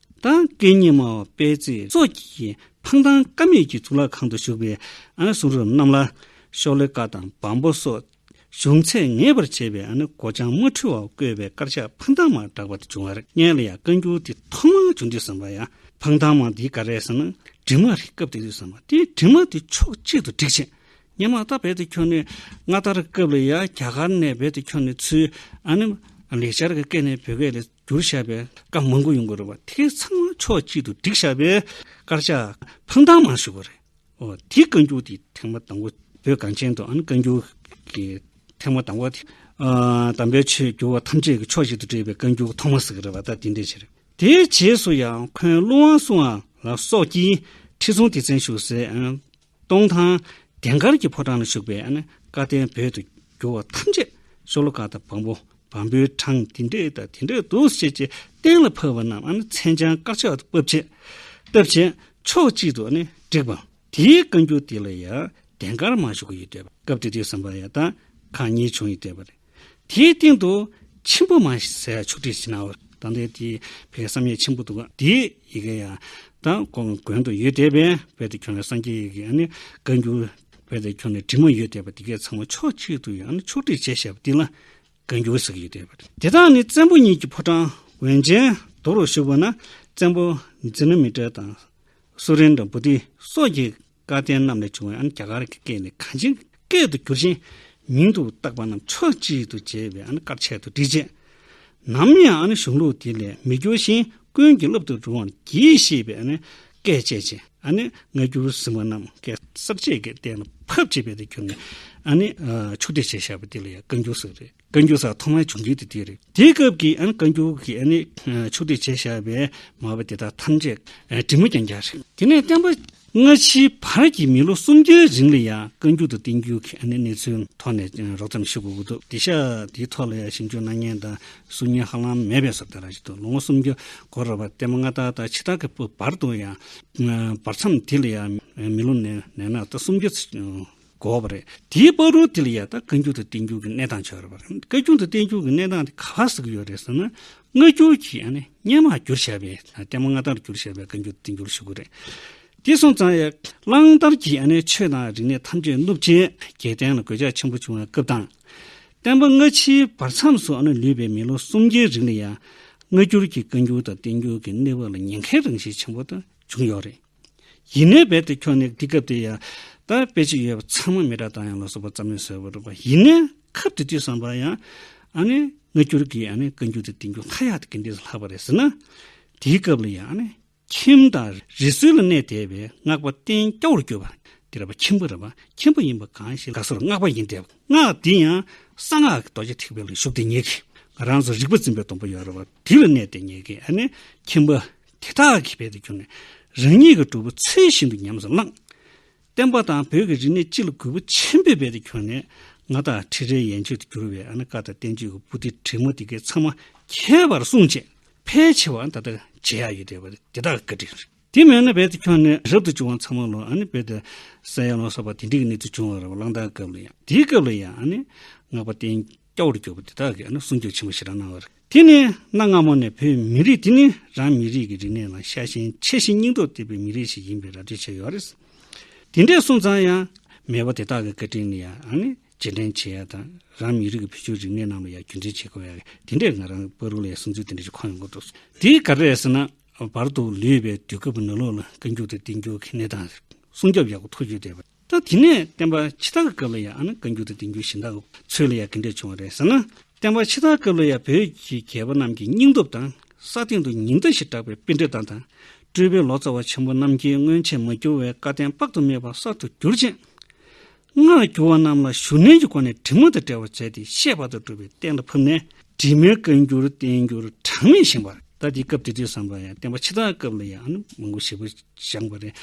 དང་སྐད་གཉིས་སྨྲ་བ་དཔལ་བརྩེགས་སོགས་ཀྱིས་འཕང་ཐང་དཀའ་མོད་ཀྱི་གཙུག་ལག་ཁང་དུ་བཞུགས་པའི་གསུང་རབ་རྣམས་ལ། ཤོག་ལྷེ་བཀའ་དང་བམ་པོ་སོགས་བྱུང་ཚད་ངེས་པར་བྱས་པའི་སྒོ་བྱང་མ་འཁྲུལ་བར་བཀོད་པའི་དཀར་ཆག་འཕང་ཐང་མར་གྲགས་པ་དེ་བྱུང་བར་མངལ་ལ་ཡང་བཀའ་འགྱུར་དེ་ཐོག་མར་བྱུང་དུས་བསམ་པ་ཡང་འཕང་ཐང་མ་འདི་ག་རེད་བསམ་ན་བྲིས་མ་རེད་སྐབས་དེ་དུས་བསམ་པ་དེ་བྲིས་མ་དེ་ཕྱོགས་གཅིག་ཏུ་བསྒྲིགས་ཆེད་སྙན་མང་དག་འབད་དུ་འཁྱོལ་ནས་སྔ་དར་སྐབས་ལ་ཡང་རྒྱ་གར་ནས་འབད་དུ་འཁྱོལ་ནས་ཚུལ། ལེགས་སྦྱར་གྱི་སྐད་ནས་བོད་སྐད་ལས། རྒྱུར་བཤད་པས་སྐབས་མང་པོ་ཡོང་དགོས་རེད་བ་དེ་ཚང་མ་ཕྱོགས་གཅིག་ཏུ་བསྒྲིགས་བཤད་པས་དཀར་ཆག་ཕང་ཐང་མང་ཞུ་དགོས་རེད། འོ་དེ་བཀའ་འགྱུར་དེ་ཐེངས་མ་དང་བོ་བོད་གངས་ཅན་དུ་ཨ་ནི་བཀའ་འགྱུར་གྱི་ཐེངས་མ་དང་བོ་དེ། དམ་པའི་ཆོས་བསྒྱུར་བ་ཐམས་ཅད་ཀྱི་ཕྱོགས་གཅིག་ཏུ་བསྒྲིགས་པའི་བཀའ་འགྱུར་ཐོག་མ་ཟིག་རེད་བ་ད་དེ་འདྲའི་ཆེ་རེད། དེའི་རྗེས་སུ་ཡང་འཁོན་ཀླུ་དབང་སུའང་ལགས་སོགས་ཀྱིས་ཁྲི་སྲོང་ལྡེ་བཙན་བཞུགས་སའི་ཨ། སྟོང་ཐང། དེང་སྐར་གྱི་ཕོ་བྲང་ལ་བཞུགས་པའི་བཀའ་བསྟན་བོད་དུ་བསྒྱུར་བ་ཐམས་ཅད་ཤོ་ལོ་ཀ་དང་བམ་པོ་བམ་པོའི་གྲངས་དེ་འདྲས་དང་དེ་འདྲས་འདུག་ཅེས་ཀྱི་གཏན་ལ་ཕབ་པ་རྣམས་མཚན་བྱང་དཀར་ཆག་ཏུ་བབས་ཆེད་བཏབ་ཅིང་ཕྱོགས་གཅིག་ཏུ་བསྒྲིགས་པ། དེའི་བཀའ་འགྱུར་དེ་ལ་ཡང་དེང་སྐར་མ་བཞུགས་ཡོད་དུས་སྐབས་དེ་དུས་སམ་པ་ཡ་དང་ཁང་གཉིས་བྱུང་ཡོད་དུས་པར། དེའི་སྟེང་དུ་ཆེན་པོ་མ་ཟད་ཕྱོགས་བྲིས་ཅི་ནའོ། དང་དེ་དེ་བས་བསམ་ཡས་ཆེན་པོ་འདུག་གོ། དེའི་ཡི་གེ་ཡང་དང་གོ། མགོན་དུ་ཡོད་དེ་བས་དཔལ་དུ་ཁྱོད་ལ་སངས་རྒྱས་ཡི་གེ་ནི་བཀའ་འགྱུར། དཔལ་དུ་ཁྱོད་ལ་དྲི་མ་ཡོད་དེ་བས་དེ་གའི་ཚང་མ་ཕྱོགས་གཅིག་ཏུ་ཡང་ཕྱོགས་བྲིས་བྱས་བྱས་པ་འདི་ལ་བཀའ་འགྱུར་ཟེར་གྱི་ཡོད་དེ། དེ་དག་ནི་བཙན་པོ་གཉིས་ཀྱི་ཕོ་བྲང་བོན་ཆེན་རྡོ་རུ་བཞུགས་པ་ན་བཙན་པོ་ཛི་ན་མི་ཏྲ་དང། སུ་རིན་དང་བུ་ཏི་སོགས་ཀྱིས། བཀའ་བསྟན་རྣམས་ལས་བྱུང་བའི་རྒྱ་གར་གྱི་སྐད་ནི་གངས་ཅན་གྱི་སྐད་དུ་བསྒྱུར་ཅིང། མིང་དུ་བཏགས་པ་རྣམས་ཕྱོགས་གཅིག་ཏུ་བྱས་པའི་དཀར་ཆས་དུ་བྲིས། ནམ་ཡང་གཞུང་ལུགས་དེ་ལས་མི་འགྱུར་ཞིང་ཀུན་གྱིས་བསླབ་ཏུ་རུང་བར་གྱིས་ཞེས་པའི་སྐད་བཅས་ཅི། སྔ་འགྱུར་ཟིན་པ་རྣམས་སྐད་གསར་བཅད་ཀྱི་སྟེང་ལ་ཕབ་ཅེས་པའི་དེ་བསྒྱུར་ནས། ཕྱུག་བདེ་ཞེས་བྱ་བ་དེ་ལ་ཡང་བཀའ་འགྱུར་ཟེར་བ་རེད། བཀའ་འགྱུར་སར་ཐོག་མར་བྱུང་རྒྱུ་དེ་དེ་རེད། དེའི་སྐབས་ཀྱི་བཀའ་འགྱུར་གྱི་ཕྱོགས་བསྡུས་བྱས་བཞག་པའི་མ་པ་དེ་དག་ཐམས་ཅད་དྲི་མ་རྐྱང་རྐྱང་རེད། དེ་ནས་བསྟན་པ། སྔ་ཕྱིའི་བར་གྱི་མི་ལོ་སུམ་བརྒྱའི་རིང་ལ་ཡང་བཀའ་འགྱུར་དུ་བསྟན་རྒྱུའི་གནས་ཚུལ་ཐོག་ནས་རོབ་ཙམ་ཤེས་དགོས་ཀྱི་འདུག་དེ་ཤ་དེའི་ཐོག་ལ་ཡང་ཞིབ་འཇུག་གནང་མཁན་དང་གསུང་མཁན་ཧ་ལམ་མེད་པས་སོ་བདེ་རང་བཞིན་དུ་ལོ་ངོ་སུམ་བརྒྱ་འགོར་རོགས་པ་བསྟན་པ་སྔ་དར་དང་ཕྱི་དར་གྱི་བར་དུ་ཡང། བར་མཚམས་དེ་ལ་ཡང་མི་ལོ་ནས་ན་ད་སུམ་བརྒྱ། དགོས་པ་རེད། དེའི་པར་རོ་དེ་ལ་ཡང་དག་བཀའ་འགྱུར་དུ་བསྟན་འགྱུར་གྱི་གནས་སྟངས་བྱུང་ཡོད་རེད། བཀའ་རྒྱུན་དུ་བསྟན་འགྱུར་གྱི་གནས་སྟངས་དེ་ག་ལ་ཟེར་གྱི་ཡོད་རེད་ཟེར་ན། སྔ་འགྱུར་གྱི་ཡང་ན་སྙན་མང་བསྒྱུར་བྱས་པའི་ལྟད་མོ་མངའ་ཐང་རུ་བསྒྱུར་བྱས་པའི་བཀའ་འགྱུར་དུ་བསྟན་འགྱུར་ཞུ་དགོས་རེད། དེ་སོང་ཙང་ཡང། གླང་དར་གྱི་ཡང་ན་ཆོས་དང་རིག་གནས་ཐམས་ཅད་བསྣུབས་རྐྱེན་རྒྱལ་བསྟན་ལ་གོད་ཆག་ཆེན་པོ་བྱུང་བའི་སྐབས་དང། བསྟན་པ་སྔ་ཕྱིའི་བར་མཚམས་སུ་ཡང་ན་ལུས་པའི་མི་ལོ་གསུམ་བརྒྱའི་རིང་ལ་ཡང། སྔ་འགྱུར་གྱི་བཀའ་འགྱུར་དང་བསྟན་འགྱུར་གྱི་གནས་བབ་ལ་ཉེན་ཁའི་རང་བཞིན་ཆེན་པོ་དེ་བྱུང་ཡོད་རེད། ཡིན་ནའི་རྦད་དེ་ཁྱོད་ནི་འདི་སྐབས་དེ་ཡང། ད་དཔེ་ཅིག་ཡོད་པ་ཚང་མ་མི་དྲ་དང་ཡང་ལོ་སོ་པ་ཙམ་ལས་བཟོད་པར་རུང་བ་ཡིན་ནའི་ཁབ་དེ་དུས་བསམ་པར་ཡང། ཨ་ནི་སྔ་འགྱུར་གྱི་ཨ་ནི་བཀའ་འགྱུར་དེ་དེང་འགྱུར་ལྷ་ཡག་དེ་གི་འདི་སུ་ལྷག་པ་རེད་ཟེར་ན། དེའི་སྐབས་ལ་ཡང་ཨ་ནི། ཁྱིམ་དང་རི་སུལ་ལ་གནས་བསྡད་པའི་སྔགས་པ་བསྟན་སྐྱ་བོར་གྱུར་པ། དེ་ར་པ་ཁྱིམ་པོ་ར་པ་ཁྱིམ་པོ་ཡིན་པ་གང་ཞིག་ལགས་སོ་ལ་སྔགས་པ་ཡིན་དེབ་སྔགས་དེ་ཡང། གསང་སྔགས་ཀྱི་རྡོ་རྗེ་ཐེག་པའི་ལ་ཞུགས་ཏེ་ཉལ་གི། ང་རང་ཚོ་རིག་པ་འཛིན་པའི་སྡོང་པོ་ཡོད་ར་བ་དེ་ལ་གནས་ཏེ་ཉལ་གི་ཨ་ནི་ཁྱིམ་པོ། དེ་དག་གི་བེད་དུ་གྱུར་ནས་རང་ཉིད་ཀྱི་གྲུབ་པོ་ཚུལ་བཞིན་དུ་ཉམས་སུ་བླངས། བསྟན་པ་དང་བོད་ཀྱི་རིག་གནས་སྤྱི་ལ་གུས་པ་ཆེན་པོས་བེད་དུ་གྱུར་ནས་ང་དང་ཁྲི་རལ་ཡན་ཆོད་དུ་གྱུར་བའི་ཨ་ན་ཀ་ད་བསྟན་བཅོས་ཀྱི་པུ་ཏི་བྲིས་མོ་འདི་གའི་ཚང་མ་ཁྱད་པར་གསུང་བཅས་ཕལ་ཆེ་བ་ད་ལྟ་མཇལ་ཡག་ཡོད་བསྡད་པ་དེ་དག་བཀའ་དྲིན་རེད། དེ་མེད་ན་བེད་དུ་གྱུར་ནས་རབ་ཏུ་བྱུང་བ་ཚང་མ་ལོ་ཨ་ནི་བེད་དུ་ས་ཡ་ལོ་སོགས་པ་དེ་འདྲི་གི་གནས་ཚུལ་བྱུང་བ་རེད་བ་གླང་དར་སྐབས་ལ་ཡང་དེའི་སྐབས་ལ་ཡང་ཨ་ནི་སྔགས་པ་བསྟན། སྐྱ་བོར་གྱུར་པ་དེ་དག་གིས་ནི་སྲུང་སྐྱོབ་ཆེན་པོ་ཞེ་དྲག་གནང་བར། དེ་ནི་གནའ་སྔ་མོ་ནས་བོད་མི་རིགས་འདི་ནི་རང་མི་རིགས་ཀྱི་རིག་གནས་ལ་ཤ་ཞེན་ཆེ་ཞིང་སྙིང་སྟོབས་བརྟན་པའི་མི་རིགས་ཤིག་ཡིན་པའི་ར་སྤྲོད་བྱས་ཡོད་རེད། དེ་འདྲའི་སོང་ཙང་ཡང། མེས་པོ་དེ་དག་གི་བཀའ་དྲིན་ནི་ཡང་ནི་རྗེས་དྲན་བྱེད་ཡ་དང། རང་མི་རིགས་ཀྱི་བུ་ཆུང་རིག་གནས་རྣམས་ལ་ཡང་རྒྱུད་འཛིན་བྱེད་དགོས་ཡ། དེ་འདྲས་ང་རང་པཱ་རུ་ལའི་གསུང་ཚུལ་དེ་འདྲས་ཀྱི་ཁོངས་ཡོང་གི་འདུག་དེ་ག་རེད་ཟེར་ན། བར་དུ་ལུས་པའི་དུས་སྐབས་ནུ་ལོག་ལ་བཀའ་འགྱུར་དེ་བསྟན་རྒྱུའི་གལ་གནད་དང། སྲུང་སྐྱོབ་ཡག་པོ་ཐུབ་ཡོད་དེ། ད་དེ་ནས་བསྟན་པ་ཕྱི་དར་སྐབས་ལ་ཡང་ཨ་ན་བཀའ་འགྱུར་དང་བསྟན་འགྱུར་གཞན་དག་ཚོས་ལ་ཡང་དགེ་འབྲས་བྱུང་བ་རེད་ཟེར་ན། བསྟན་པ་ཕྱི་དར་སྐབས་ལ་ཡང་བོད་ཀྱི་རྒྱལ་པོ་རྣམས་ཀྱི་སྙིང་སྟོབས་དང་ས་སྟེང་དུ་ཉི་ཟླ་ཞེས་གྲགས་པའི་དཔེ་འགྲེལ་སྟངས་དང། སྤྲུལ་པའི་ལོ་ཙཱ་བ་ཆེན་པོ་རྣམས་ཀྱིས་སྔོན་ཆད་མ་གྱུར་བའི་བཀའ་བསྟན་དཔག་ཏུ་མེད་པ་གསར་དུ་བསྒྱུར་ཅིང། སྔར་བསྒྱུར་བ་རྣམས་ལ་ཞུ་ནན་གྱི་སྒོ་ནས་དྲི་མ་དང་བྲལ་བར་མཛད་དེ་ཤེས་པ་དང་སྒྲུབ་པའི་གཏན་ལ་ཕབ་ནས། དྲི་མེད་བཀའ་འགྱུར་བསྟན་འགྱུར་གྲངས་མེད་བཞེངས་པ། ད་དེའི་སྐབས་དེ་དུས་བསམ་པ་ཡང་བསྟན་པ་ཕྱི་དར་སྐབས་ལ་ཡང་ཨ་ནི་མང་པོ་ཞེ་པོ་བཞེངས་པ་རེད།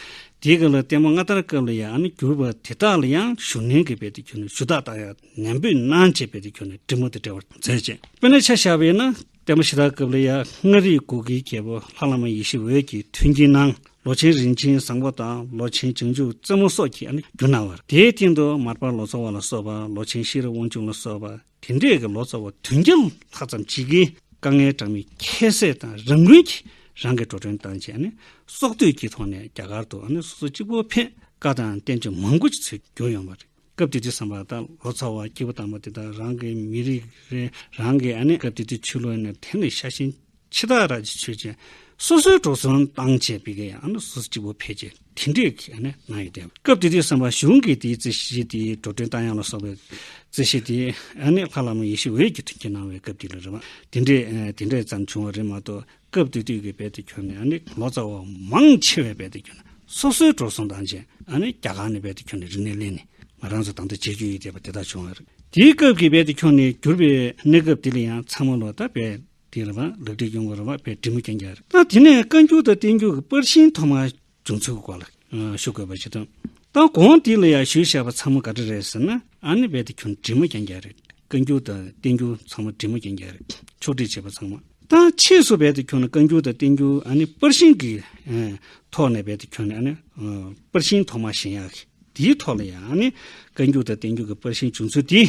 དེའི་སྐབས་ལ་བསྟན་པ་སྔ་དར་སྐབས་ལ་ཡང་ཨ་ནི་གྱུར་པ་དེ་དག་ལ་ཡང་བཞུགས་གནས་ཀྱི་དཔེ་དེ་གྱུར་ནས་ཞུ་དག་དག་ཡང་ནན་པོས་གནང་བྱས་དཔེ་དེ་གྱུར་ནས་བྲིས་མོ་དེ་བྲལ་བར་མཛད་ཅེས་དཔེར་ན་ཆ་བཞག་པས་ན་བསྟན་པ་ཕྱི་དར་སྐབས་ལ་ཡང་མངའ་རིས་གུ་གེའི་རྒྱལ་པོ་ལྷ་བླ་མ་ཡེ་ཤེས་འོད་ཀྱིས་མཐུན་རྐྱེན་གནང་ལོ་ཆེན་རིན་ཆེན་བཟང་པོ་དང་ལོ་ཆེན་བྱང་ཆུབ་རྩེ་མོ་སོགས་ཀྱིས་ཨ་ནི་བསྒྱུར་གནང་བ་རེད། དེའི་སྟེང་དུ་མར་པ་ལོ་ཙཱ་བ་ལ་སོགས་པ་ལོ་ཆེན་ཤེས་རབ་དབང་ཕྱུག་ལ་སོགས་པ། དེ་འདྲས་ཀྱི་ལོ་ཙཱ་བ་བདུན་བརྒྱ་ལྷག་ཙམ་བྱིས་ཀྱི་དཀའ་ངལ་གྲངས་མེད་ཁྱད་བསད་དང་རང་འགུལ་གྱིས་རང་གིས་འགྲོ་གྲོན་བཏང་རྗེས་ནི་སྲོག་བསྡོས་ཀྱི་ཐོག་ནས་རྒྱ་གར་དུ་སོ་སོ་གཅིག་པོ་ཕེབས་དཀའ་དང་བསྟན་བཅོས་མང་པོ་ཞིག་ཚུད་གྱུར་ཡོང་བ་རེད། སྐབས་དེ་དུས་བསམ་པ་ད་ལོ་ཙཱ་བ་སྐྱེས་བུ་དམ་པ་དེ་དག་རང་གི་མི་རིགས་རེད་རང་གི་སྐབས་དེ་དུས་ཆོས་ལུགས་ནི་དེ་ལས་ཤ་ཞེན་འཆི་བདག་ར་ཅི་ཆོས་ཅན། སོ་སོའི་གྲོགས་སུན་བཏང་བྱས་པས་ཀྱང་ཡང་ན་སོ་སོ་གཅིག་པུ་ཕལ་ཆེར་དེ་འདྲའི་གནས་ན་ཡོད་དེ། སྐབས་དེ་དུས་སེམས་དཔའ་གཞུང་གིས་དེའི་རྩེ་ཤེས་དེ་འགྲོ་དོན་རྟ་དབྱངས་ལ་སོགས་པའི་རྩེ་ཤེས་དེ། ཡང་ན་ལྷ་བླ་མ་ཡེ་ཤེས་འོད་ཀྱི་དྲིན་གྱིས་གནང་བའི་སྐབས་དེ་ལ་རེ་བ་དེ་འདྲས་དེ་འདྲས་ཙམ་བྱུང་བ་རེད་མ་གཏོགས་སྐབས་དེ་དུས་ཀྱི་བལ་དུ་ཁྱོད་ནས་ཡང་ན་ལོ་ཙཱ་བ་མང་ཆེ་བས་བལ་དུ་ཁྱོད་ནས་སོ་སོའི་གྲོགས་སུན་བཏང་བྱས་ཡང་ན་རྒྱ་གར་ནས་བལ་དུ་ཁྱོད་ནས་རིག་གནས་གླེང་ནས་ང་རང་ཚོ་དང་དུ་བྱེད་རྒྱུ་ཡིན་ཟེར་བ་དེ་དག་བྱུང་བ་རེད། དེའི་སྐབས་ཀྱི་བལ་དུ་ཁྱོད་ནས་གྱུར་པའི་གནས་སྐབས་དེ་ལ་ཡང་ཚང་མ་ལོ་ཙཱ་བས་དེ་ལ་བར་ལག་དྲིལ་ཡུངས་བར་བ་པའི་དྲིལ་མོ་རྐྱེན་བརྒྱ། དེ་ནས་བཀའ་འགྱུར་དང་བསྟན་འགྱུར་གྱི་པར་ཤིང་ཐོག་མར་བྱུང་ཚུལ་གྱི་སྐོར་ལ་ཞུ་དགོས་པ་ཞིག་དང། ད་གོང་དེ་ལ་ཡང་ཞུས་བྱས་པ་ཚང་མ་ག་དྲིལ་རེད་ཟེར་ན་ཨ་ནི་བས་དེ་ཁྱོད་དྲིལ་མོ་རྐྱེན་བརྒྱ་རེད། བཀའ་འགྱུར་དང་བསྟན་འགྱུར་ཚང་མ་དྲིལ་མོ་རྐྱེན་བརྒྱ་རེད་ཕྱོགས་བསྒྲིགས་བྱས་པ་ཚང་མ། ད་ཕྱིས་སུ་བས་དེ་ཁྱོད་ནི་བཀའ་འགྱུར་དང་བསྟན་འགྱུར་ཨ་ནི་པར་ཤིང་གི་ཐོག་ནས་བས་དེ་ཁྱོད་ནི་ཨ་ནི་པར་ཤིང་ཐོག་མར་བཞེངས་ཡག་གི་དེའི་ཐོག་ལ་ཡང་ཨ་ནི་བཀའ་འགྱུར་དང་བསྟན་འགྱུར་གྱི་པར་ཤིང་བྱུང་ཚུལ་དེ།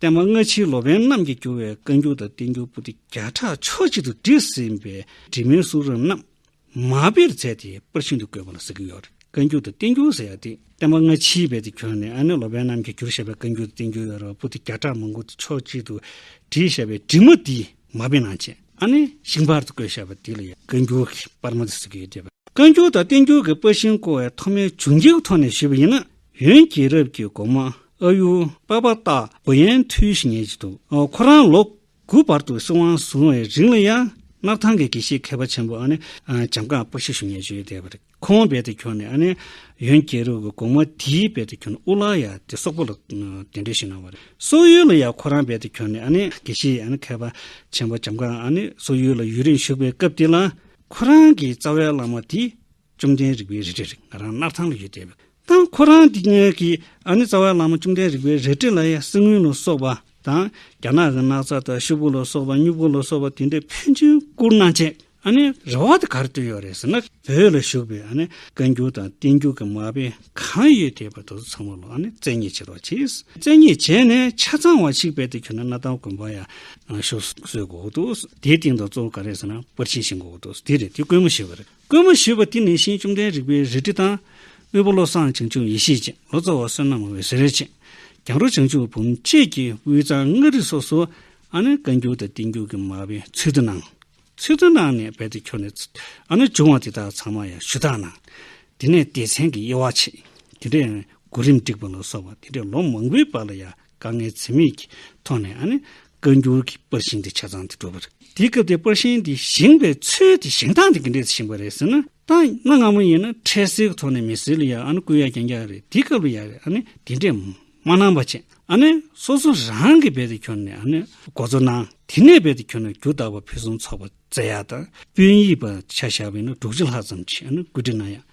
བསྟན་པ་སྔ་ཕྱིའི་ལོ་པན་རྣམས་ཀྱིས་བསྒྱུར་བའི་བཀའ་འགྱུར་དང་བསྟན་འགྱུར་པོ་ཏི་བརྒྱ་ཕྲག་ཕྱོགས་གཅིག་ཏུ་བསྒྲིགས་ཟིན་པའི་བྲིས་མའི་གསུང་རབ་རྣམས་མ་དཔེར་མཛད་དེ་པར་ཤིན་ཏུ་བཀོད་པ་ལ་ཟེར་གྱི་ཡོད། བཀའ་འགྱུར་དང་བསྟན་འགྱུར་ཟེར་ཡག་སྟེ་བསྟན་པ་སྔ་ཕྱིའི་བེད་དུ་གྱུར་ནས་ཨ་ནེ་ལོ་པན་རྣམས་ཀྱིས་བསྒྱུར་བཞག་པའི་བཀའ་འགྱུར་དང་བསྟན་འགྱུར་ཡོད་རབས་པོ་ཏི་བརྒྱ་ཕྲག་མང་པོ་ཏི་ཕྱོགས་གཅིག་ཏུ་བསྒྲིགས་བཞག་པའི་བྲིས་མ་དེ་མ་དཔེ་ནང་ཆེན་ཨ་ནེ་ཤིང་པར་དུ་བཀོད་བཞག་པ་དེ་ལ་ཡང་བཀའ་འགྱུར་གྱི་པར་མ་ཏི་ཟེར་གྱི་ཡོད་དེ། བཀའ་འགྱུར་དང་བསྟན་འགྱུར་གྱི་པར་ཤིང་བརྐོ་བའི་ཐོག་མའི་བྱུང་རྒྱུའི་ཐོག་ནས་ཞུས་པ་ཡིན་ན། ཡོན་རྒྱལ་རབས་ཀྱི་དགོང་མོ་ཨ་ཡུ་པ་པ་སྟག་འོ་ཡན་འཕྲུལ་ཞིག་ཉལ་གྱི་འདུག་ཁོ་རང་ལོ་དགུ་བར་དུ་སྲིད་དབང་བཟུང་བའི་རིང་ལ་ཡང་སྣར་ཐང་གི་དགེ་བཤེས་མཁས་པ་ཆེན་པོ་འཇམ་དགའ་སྤུ་ཤ་ཞུ་ཉལ་གྱི་ཡོད་དེ། ཁོང་དཔལ་དུ་གྱུར་ནས་ཡོན་རྒྱལ་རབས་ཀྱི་དགོང་མོ་དེའི་དཔལ་དུ་གྱུར་ནས་དབུ་བླ་ཡ་དེ་སོག་པོ་ལ་གདན་འདྲེན་ཞུས་གནང་བ་རེད། སོག་ཡུལ་ལ་ཡང་ཁོ་རང་དཔལ་དུ་གྱུར་ནས་དགེ་བཤེས་མཁས་པ་ཆེན་པོ་འཇམ་དགའ་སོག་ཡུལ་ལ་ཡུན་རིང་བཞུགས་པའི་སྐབས་དེ་ལ། ཁོ་རང་གི་རྩ་བའི་བླ་མ་དེ་བཅོམ་ལྡན་རིག་པའི་རལ་གྲི་རིགས་ང་རང་སྣར་ཐང་ལ་ཡོད་དེ། དང་ཁོ་རང་གི་ཉལ་གི་ཨ་ནི་རྩ་བའི་བླ་མ་བཅོམ་ལྡན་རིག་པའི་རལ་གྲི་ལ་ཡང་གསེར་དངུལ་ལ་སོགས་པ་དང་རྒྱ་ནག་གི་སྣག་ཚ་དང་ཤུབ་བུ་ལ་སོགས་པ་སྨྱུག་བུ་ལ་སོགས་པ་དེ་འདྲའི་ཕན་ཚུན་བསྐུར་གནང་བྱེད་ཨ་ནི་རེ་བ་དེ་གར་བཏོན་ཡོད་རེད་ཟེར་ན་བོད་ལ་བཞུགས་པའི་ཨ་ནི་བཀའ་འགྱུར་དང་བསྟན་འགྱུར་གྱི་མ་དཔེ་གང་ཡོད་དེ་བར་དོ་ཚོ་ཚང་མ་ལ་ཨ་ནི་བཙན་གཉིས་བྱེད་རོགས་བྱེད། བཙན་གཉིས་བྱས་ནས་ཆ་ཚང་བ་ཞིག་བེད་དུ་ཁྱོན་ན་གནའ་ཐང་དགོན་པ་ཡང་ཤོ་སོའི་དགོས་འདུག་དེའི་སྟེང་དུ་གཙོ་བོ་ག་རེ་ཟེར་ན་པར་ཆས་ཤིག་འགོ་འོ་འདུག་དེ་རེད་དེ་དཀོན་མོ་ཞིག་རེད། བསྐུལ་མ་ཞུས་པ་དེ་ནི་ཤིང་བཅོམ་ལྡན་རིག་པའི་རལ་གྲི་དང། དབུལ་པོ་བློ་བཟང་བྱང་ཆུབ་ཡེ་ཤེས་ཅན་ལོ་ཙཱ་བ་བསོད་ནམས་འོད་ཟེར་ཅན། གྱང་རུ་བྱང་ཆུབ་བུམ་བཅས་ཀྱིས་དབུས་གཙང་མངའ་རིས་སོགས་སུ། ཨ་ནེ་བཀའ་འགྱུར་དང་བསྟན་འགྱུར་གྱི་མ་དཔེ་ཚུལ་དུ་གནང། ཚུལ་དུ་གནང་ནས་རྦད་དེ་ཁྱོར་ནས། ཨ་ནེ་བྱུང་བ་དེ་དག་ཚང་མ་ཡང་ཞུ་དག་གནང། དེ་ནས་སྡེ་ཚན་གྱི་དབྱེ་བ་ཕྱེས། དེ་འདྲའི། གོ་རིམ་སྒྲིག་པ་ལ་སོགས་པ་དེ་འདྲའི་ལོ་མང་པོའི་བར་ལ་ཡང་དཀའ་ངལ་འཚེ་མེད་ཀྱི་ཐོག་ནས་ཨ་ནི་བཀའ་འགྱུར་གྱི་པར་ཤིང་དེ་ཆ་ཚང་དུ་བྲོས་པ་རེད། དེའི་སྐབས་དེའི་པར་ཤིང་དེ་བཞེངས་པའི་ཚུལ་དེ་བཞེངས་སྟངས་དེ་ག་འདྲས་སུ་བཞེངས་པ་རེད་ཟེར་ན། ད་གནའ་སྔ་མོ་ཡིན་ན་འཕྲལ་སེལ་གྱི་ཐོག་ནས་མི་སེར་ལ་ཡང་ཨ་ནི་སྐུལ་ཡ་རྐྱང་རྐྱང་རེད་དེའི་སྐབས་ལ་ཡང་ཨ་ནི་དེ་འདྲས་མ་གནང་པ་ཅན་ཨ་ནི་སོ་སོ་རང་གིས་རྦད་དེ་ཁྱོར་ནས་ཨ་ནི་འགོ་གཙོ་གནང། དེ་ནས་རྦད་དེ་ཁྱོར་ནས་རྒྱུ་བདག་པ་ཕུན་སུམ་ཚོགས་པ་བཙལ་ཡག་དང་དཔོན་ཡིག་པ་ཆ་བཞག་པ་ཡིན་ན་དྲུག་ཅུ་ལྷག་ཙམ་ཞིག་ཨ་ནི་བཀོད་སྒྲིག་གནང་ཡག།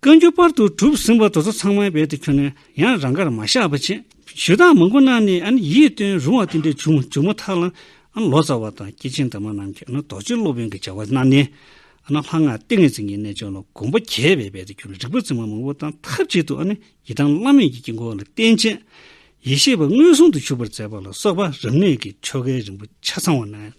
བཀའ་འགྱུར་པར་དུ་གྲུབ་ཟིན་པ་དོལ་ཚོགས་ཚང་མའི་དཔལ་དུ་གྱུར་ནས་ཡང་རང་གར་མ་བཞག་པ་བྱས། ཞུ་དག་མང་པོ་གནང་ནས་ཨ་ནི་ཡིད་རྟོན་རུང་བ་དེ་འདྲའི་བྱུང་བྱུང་མ་ཐག་ལ། ཨ་ནི་ལོ་ཙཱ་བ་དང་སྐྱེས་ཆེན་དར་མ་རྣམས་ཀྱིས་ཨ་ནི་རྡོ་རྗེ་སློབ་དཔོན་གྱི་བྱ་བ་གནང་ནས། ཨ་ནི་ལྷ་སྔགས་ཏིང་ངེ་འཛིན་གྱི་རྣལ་འབྱོར་ལ་གོམས་པ་རྒྱས་པའི་དཔལ་དུ་གྱུར་ནས་རིག་པ་རྫུན་མ་མང་པོ་དང་ཐབས་ཅིག་ཏུ་ཨ་ནི་ཡི་དམ་བླ་མེད་ཀྱི་དཀྱིལ་འཁོར་ལ་བརྟེན་བྱས། ཡེ་ཤེས་པ་མངོན་སུམ་དུ་བཞུགས་པར་མཛད་པ་ལ་སོགས་པ་རབ་གནས་ཀྱི་ཆོ་གའི་རིམ་པ་ཆ་ཚང་བ་གནང།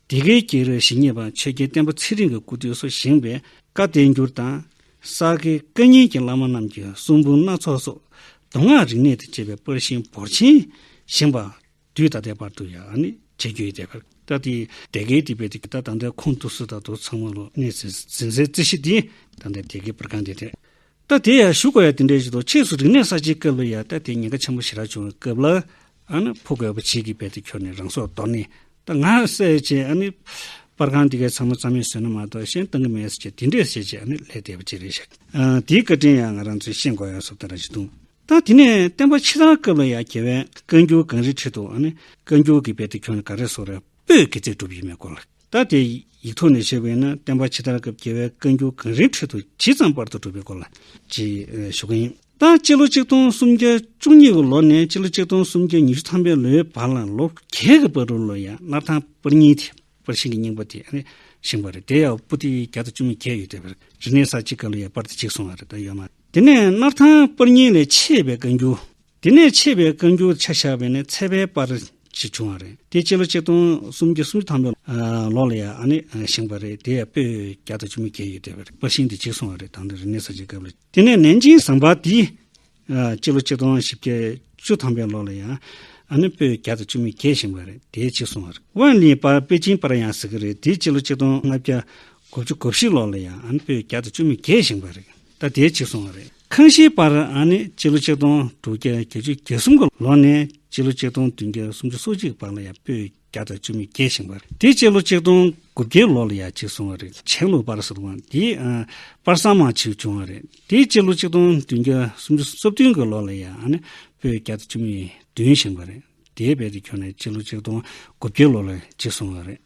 འདི་གའི་སྐྱེས་རབས་ཞིབ་གཉེར་པ་ཆོས་རྒྱལ་བསྟན་པ་ཚེ་རིང་གི་སྐུ་དུས་སུ་བཞེངས་པའི་བཀའ་བསྟན་འགྱུར་དང། ས་དགེ་བཀའ་རྙིང་གི་བླ་མ་རྣམས་ཀྱི་གསུང་འབུམ་སྣ་ཚོགས་སོགས་མདོ་སྔགས་རིག་གནས་དང་བཅས་པའི་པར་ཤིང་འབོར་ཆེན་བཞེངས་པ། དུས་ད་ལྟའི་བར་དུ་ཡང་བྱེད་རྒྱུ་ཡོད། སྐབས་དེའི་དེ་གའི་སྡེ་དཔོན་དེ་ད་ལྟའི་ཁོངས་གཏོགས་སུ་ད་དུ་ཚང་མ་ལོ་ནས་ཟིན་སའི་རྩིས་གཞི་དེ་ད་ལྟའི་དེ་གའི་པར་ཁང་དེ་རེད། ལྟ་དེ་ཡང་ཞུ་དགོས་ཡ་དེ་འདྲའི་ཞིག་དང་ཕྱིས་སུ་རིག་གནས་གསར་བརྗེའི་སྐབས་ལ་ཡང་ལྟ་དེའི་ཉེན་ཁ་ཆེན་པོ་ཞེ་དྲག་བྱུང་བའི་སྐབས་ལ། ཨ་ནི་ཕོ་རྒོད་པོ་བྱེས་ཀྱི་དཔལ་དུ་ཁྱོར་ནས་རང་སྲོག་དོར་ནས། ད་ང་སེ་བྱས་ཨ་ནི། པར་ཁང་འདི་གའི་ཚང་མ་རྩ་མེད་བཟོས་ན་མ་གཏོགས་གཞན་གཏང་གི་མེད་ཟེར་གྱི་དེ་འདྲས་བྱས་རྗེས་ཨ་ནི་ལས་དེ་བ་ཅི་རེད་ཤག། དེའི་བཀའ་དྲིན་ཡང་ང་རང་ཚོས་ཤེས་དགོས་ཡོད་སོགས་ལྟར་རང་བཞིན་དུ། ལྟ་དེ་ནས་བསྟན་པ་ཕྱི་དར་སྐབས་ལ་ཡང་རྒྱལ་བའི་བཀའ་འགྱུར་གངས་རིའི་ཁྲི་དང་ཨ་ནི། བཀའ་འགྱུར་གྱི་དཔལ་དུ་ཁྱོར་ནས་ག་རེ་སོགས་རེ་སྤོས་ཀྱི་རྩིས་སྒྲུབ་ཡོད་མེད་སྐོར་ལ། ལྟར་དེ་ཡིག་ཐོག་ནས་བཤད་པ་ཡིན་ན་བསྟན་པ་ཕྱི་དར་སྐབས་རྒྱལ་བའི་བཀའ་འགྱུར་གངས་རིའི་ཁྲོད་དུ་ཇི་ཙམ་པར་དུ་བསྒྲུབས་པའི་སྐོར་ལ། ཅེས་ཞུ་གི་ཡིན། ད་སྤྱི་ལོ་གཅིག་སྟོང་སུམ་བརྒྱ་བཅུ་གཉིས་ཀྱི་ལོ་ནས་སྤྱི་ལོ་གཅིག་སྟོང་སུམ་བརྒྱ་ཉི་ཤུ་ཐམ་པའི་ལོའི་བར་ལ་ལོ་རྒྱས་ཀྱི་པར་དྲུག་ལོ་ཡང་སླར་ཐང་པར་གཉིས་དེ་པར་ཤིང་གི་རྙིང་པ་དེ་ནས་བཞེངས་པ་རེད་དེ་ཡང་པོ་ཏི་བརྒྱ་དང་བཅུ་མི་བརྒྱད་ཡོད་དེ་པར་རི་ནས་ས་གཅིག་ག་ལོ་ཡང་པར་དེ་གཅིག་སོང་བ་རེད་ད་ཡོད་མ་རེད་དེ་ནས་སླར་ཐང་པར་གཉིས་ལས་མཆེད་པའི་བཀའ་འགྱུར་དེ་ནས་ཆད་པའི་བཀའ་འགྱུར་ཆ་བཞག་པས་ནི་ཚད་པའི་པར་གཅིག་བྱུང་བ་རེད། དེ་སྤྱི་ལོ་གཅིག་སྟོང་སུམ་བརྒྱ་སུམ་ཅུ་དང་པོའི་ལོ་ལ་ཡང་ནི་བཞེངས་པ་རེད། དེ་ཡང་པོད་བརྒྱ་དང་བཅུ་མོ་བརྒྱད་ཡོད་དེ་བས་པར་ཤིང་དེ་གཅིག་སོང་བ་རེད་ད་ནི་རིག་གནས་གསར་བརྗེའི་སྐབས་ལ། དེ་ནས་ནན་ཅིང་ཟངས་པ་དེ་སྤྱི་ལོ་གཅིག་སྟོང་བཞི་བརྒྱ་བཅུ་དང་པོའི་ལོ་ལ་ཡང་ནི་པོད་བརྒྱ་དང་བཅུ་མོ་བརྒྱད་བཞེངས་པ་རེད་དེ་གཅིག་སོང་བ་རེད། ཝན་ལིའི་པར་པེ་ཅིན་པར་ཡང་ཟེར་གྱི་རེད་དེ་སྤྱི་ལོ་གཅིག་སྟོང་ལྔ་བརྒྱ་གོ་བཅུ་གོ་བཞི་ལོ་ལ་ཡང་ནི་པོད་བརྒྱ་དང་བཅུ་མོ་བརྒྱད་བཞེངས་པ་རེད། ད་ལྟའི་ཕྱིར་སོང་བ་རེད། ཁང་བཞིའི་པར་ཨང་ནི་སྤྱི་ལོ་ཆིག་སྟོང་དྲུག་བརྒྱ་བརྒྱད་ཅུ་གྱ་གསུམ་གི་ལོ་ནས་སྤྱི་ལོ་ཆིག་སྟོང་བདུན་བརྒྱ་སུམ་ཅུ་སོ་གཅིག་བར་ལ་ཡང་པོད་བརྒྱ་དང་བཅུ་མོད་བརྒྱད་བཞེངས་པ་རེད་དེ་སྤྱི་ལོ་ཆིག་སྟོང་དགུ་བརྒྱའི་ལོ་ལ་ཡང་གཅིག་སོང་བ་རེད་བྱང་ལུགས་པར་ཟེར་བའང་དེའི་པར་གསང་མང་ཞིག་བྱུང་བ་རེད་དེ་སྤྱི་ལོ་ཆིག་སྟོང་བདུན་བརྒྱ་སུམ་ཅུ་སོ་བདུན་གྱི་ལོ་ལ་ཡང་ཨ་ནི་པོད་བརྒྱ་དང་བཅུ་མོད་བདུན་བཞེངས་པ་རེད། དེའི་དཔལ་དེ་ཁྱོན་ནས་སྤྱི་ལོ་ཆིག་སྟོང་དགུ་བརྒྱད་ལོ་ལ་འཇིག་སོང་བ་རེད།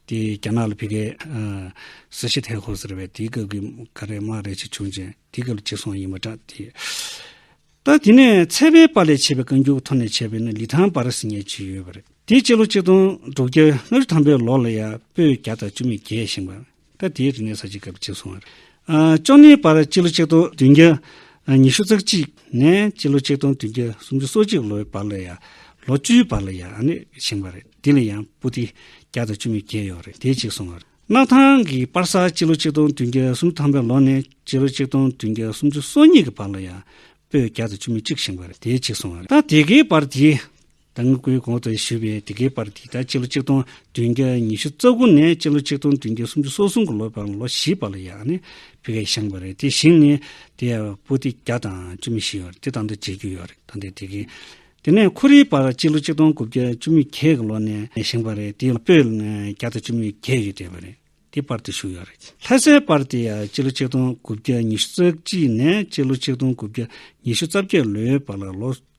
དེ་རྒྱ་ནག་ལ་བི་ཀའི། སི་ཤི་ཐའི་ཧོ་ཟེར་བས་དེའི་སྐབས་ཀྱི་ཀ་རའི་དམག་རེད་ཅིག་བྱུང་ཅིང་དེའི་སྐབས་ལ་འཇིག་སོང་བ་ཡིན་པ་འདྲ། ད་དེ་ནས་ཚལ་པའི་པ་ལས་བྱས་པའི་བཀའ་འགྱུར་གྱི་ཐོག་ནས་བྱས་པའི་ནི་ལི་ཐང་པ་ར་སི་ཉའི་ཇི་ཡོད་པ་རེད། དེ་སྤྱི་ལོ་ཆིག་སྟོང་དྲུག་བརྒྱ་ལྔ་བཅུ་ཐམ་པའི་ལོ་ལ་ཡང་པོད་བརྒྱ་དང་བཅུ་མེད་བརྒྱད་བཞེངས་པ། སྐབས་དེའི་རིག་གནས་ས་ཆའི་སྐབས་གཅིག་སོང། བཅོ་ལྔའི་བར་སྤྱི་ལོ་ཆིག་སྟོང་བདུན་བརྒྱ་ཉི་ཤུ་རྩ་གཅིག་ནས་སྤྱི་ལོ་ཆིག་སྟོང་བདུན་བརྒྱ་སུམ་ཅུ་སོ་གཅིག་ལོའི་བར་ལ་ཡང་ལོ་བཅུའི་བར་ལ་ཡང་བཞེངས་པ་རེད། དེ་ལ་ཡང་པུ་ཏི་བརྒྱ་དང་བཅུ་མེད་བརྒྱད་ཡོད་རེད་དེ་གཅིག་སོང། སྣར་ཐང་གི་པར་ས་སྤྱི་ལོ་ཆིག་སྟོང་བདུན་བརྒྱ་སུམ་ཅུ་ཐམ་པའི་ལོ་ནས་སྤྱི་ལོ་ཆིག་སྟོང་བདུན་བརྒྱ་སུམ་ཅུ་སོ་གཉིས་ཀྱི་བར་ལ་ཡང་པུས་བརྒྱ་དང་བཅུ་མེད་གཅིག་བཞེངས་པ་རེད་དེ་གཅིག་སོང། ད་དེ་གའི་པར་དེའི་ད་སྔ་སྐུའི་འགོ་དང་བཞི་བའི་དེ་གའི་བར་འདི་ལྟར་སྤྱི་ལོ་གཅིག་སྟོང་བདུན་བརྒྱ་ཉི་ཤུ་རྩ་དགུ་ནས་སྤྱི་ལོ་གཅིག་སྟོང་བདུན་བརྒྱ་སུམ་ཅུ་སོ་གསུམ་གྱི་ལོ་པའམ་ལོ་བཞི་བར་ལ་ཡང་ནི་བི་ཀའི་ཤངས་པ་རེད་དེ་ཞིང་ནི་དེ་ཡང་པུ་ཏི་བརྒྱ་དང་བཅུ་མེད་བཞི་ཡོད་རེད་དེ་དང་དུ་བརྗེ་རྒྱུ་ཡོད་རེད་ད་ལྟའི་དེ་གའི། དེ་ནས་ཁོ་རེའི་བར་སྤྱི་ལོ་གཅིག་སྟོང་དགུ་བརྒྱ་བཅུ་མོད་བརྒྱད་ཀྱི་ལོ་ནས་བཞེངས་པ་རེད་དེ་པོད་བརྒྱ་དང་བཅུ་མོད་བརྒྱད་ཡོད་བསྡད་པ་རེད་དེ་བར་དུ་བཞུགས་ཡོད་རེད་ལྷ་སའི་བར་དེ་ཡང་སྤྱི་ལོ་གཅིག་སྟོང་དགུ་བརྒྱ་ཉི་ཤུ་རྩ་གཅིག་ནས་སྤྱི་ལོ་གཅིག་སྟོང་དགུ་བརྒྱ་ཉི་ཤུ་རྩ་བརྒྱད་ལོའི་བར་ལ་ལོ་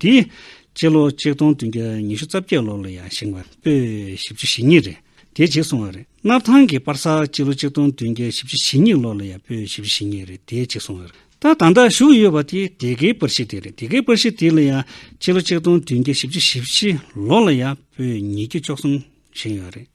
དེ་ཡི་སྤྱི་ལོ་ཆིག་སྟོང་བདུན་བརྒྱ་ཉི་ཤུ་རྩ་བརྒྱད་ལོར་ལ་ཡང་བཞེངས་པ་པོས་བཞི་བཅུ་ཞེ་གཉིས་རེད་དེ་བརྗེད་སོང་བ་རེད། སྣར་ཐང་གི་པར་སར་སྤྱི་ལོ་ཆིག་སྟོང་བདུན་བརྒྱ་བཞི་བཅུ་ཞེ་གཉིས་ལོར་ལ་ཡང་པོས་བཞི་བཅུ་ཞེ་གཉིས་རེད་དེ་བརྗེད་སོང་བ་རེད། ད་ད་ལྟ་བཞུགས་ཡོད་པ་དེ་དེ་གའི་པར་གཞི་དེ་རེད་དེ་གའི་པར་གཞི་དེ་ལ་ཡང་སྤྱི་ལོ་ཆིག་སྟོང་བདུན་བརྒྱ་བཞི་བཅུ་ཞེ་བཞི་ལོར་ལ་ཡང་པོས་ཉིས་བརྒྱ་བཅུ་གསུམ་བཞེངས་ཡོད་རེད།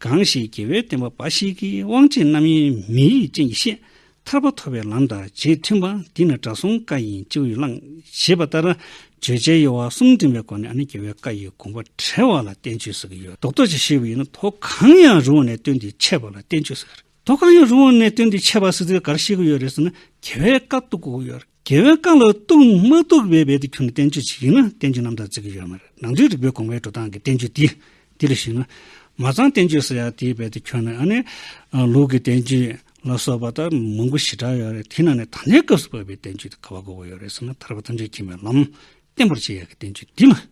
གང་ཞིག་རྒྱལ་བའི་བསྟན་པ་འབའ་ཞིག་གི་དབང་ཆེན་རྣམ་གཡེང་མི་ཡི་སྤྱན་གྱིས་ཤེས། ཐར་པ་ཐོབ་པའི་ལམ་དང་རྗེས་མཐུན་པ་འདི་ནི་དགྲ་གསུམ་བཀའ་ཡིན་སྤྱི་བོས་བླང། ཞེས་པ་ལྟར་བརྗོད་བྱའི་དབྱེ་བ་གསུམ་འདྲེན་པའི་སྒོ་ནས་ནི་རྒྱལ་བའི་བཀའ་ཡི་དགོངས་པ་བྲལ་བ་ལ་བསྟན་བཅོས་ཟེར་གྱི་ཡོད། མདོ་རྡོ་རྗེ་ཞེས་པ་ཡིན་ན་མདོ་གང་ཡང་རུང་བ་ནས་བཏོན་ཏེ་འཆད་པ་ལ་བསྟན་བཅོས་ཟེར། མདོ་གང་ཡང་རུང་བ་ནས་བཏོན་ཏེ་འཆད་པ་ཟེར་དུས་ག་རེ་བཤད་ཀྱི་ཡོད་རེད་ཟེར་ན་རྒྱལ་བའི་བཀའ་བཏུ་དགོས་ཀྱི་ཡོད། རྒྱལ་བའི་བཀའ་ལ་གཏུགས་མ་གཏུགས་བའི་བེད་དུ་ཁྱོད་ཀྱི་བསྟན་བཅོས་ཅིག་ཡིན་ན་བསྟན་བཅོས་རྣམས་དང་བརྩི་གི་ཡོད་མ་རེད་ནང་དོན་རིག་པའི་དགོངས་པའི་འགྲོ་སྟངས་ཀྱི་བསྟན་བཅོས་འདི་འདི་ལ་གཞིགས་ན། མ་ཚང་བསྟན་བཅོས་སུ་ཡང་དེའི་བེད་དུ་ཁྱོད་ནི་ཨ་ནི། ལུགས་ཀྱི་བསྟན་བཅོས། ལ་སོགས་པ་ལྟར་མང་པོ་ཞེ་དྲག་ཡོད་རེད་དེ་ནང་ནས་ད་ལྟའི་སྐབས་སུ་བབས་པའི་བསྟན་བཅོས་འདི་ག་བ་གོ་བ་ཡོད་རེད་བསམ་ན་ཐར་པ་ཐམས་ཅད་མཁྱེན་པའི་ལམ་བསྟན་པར་བྱེད་ཡག་གི་བསྟན་བཅོས་འདི་ལ།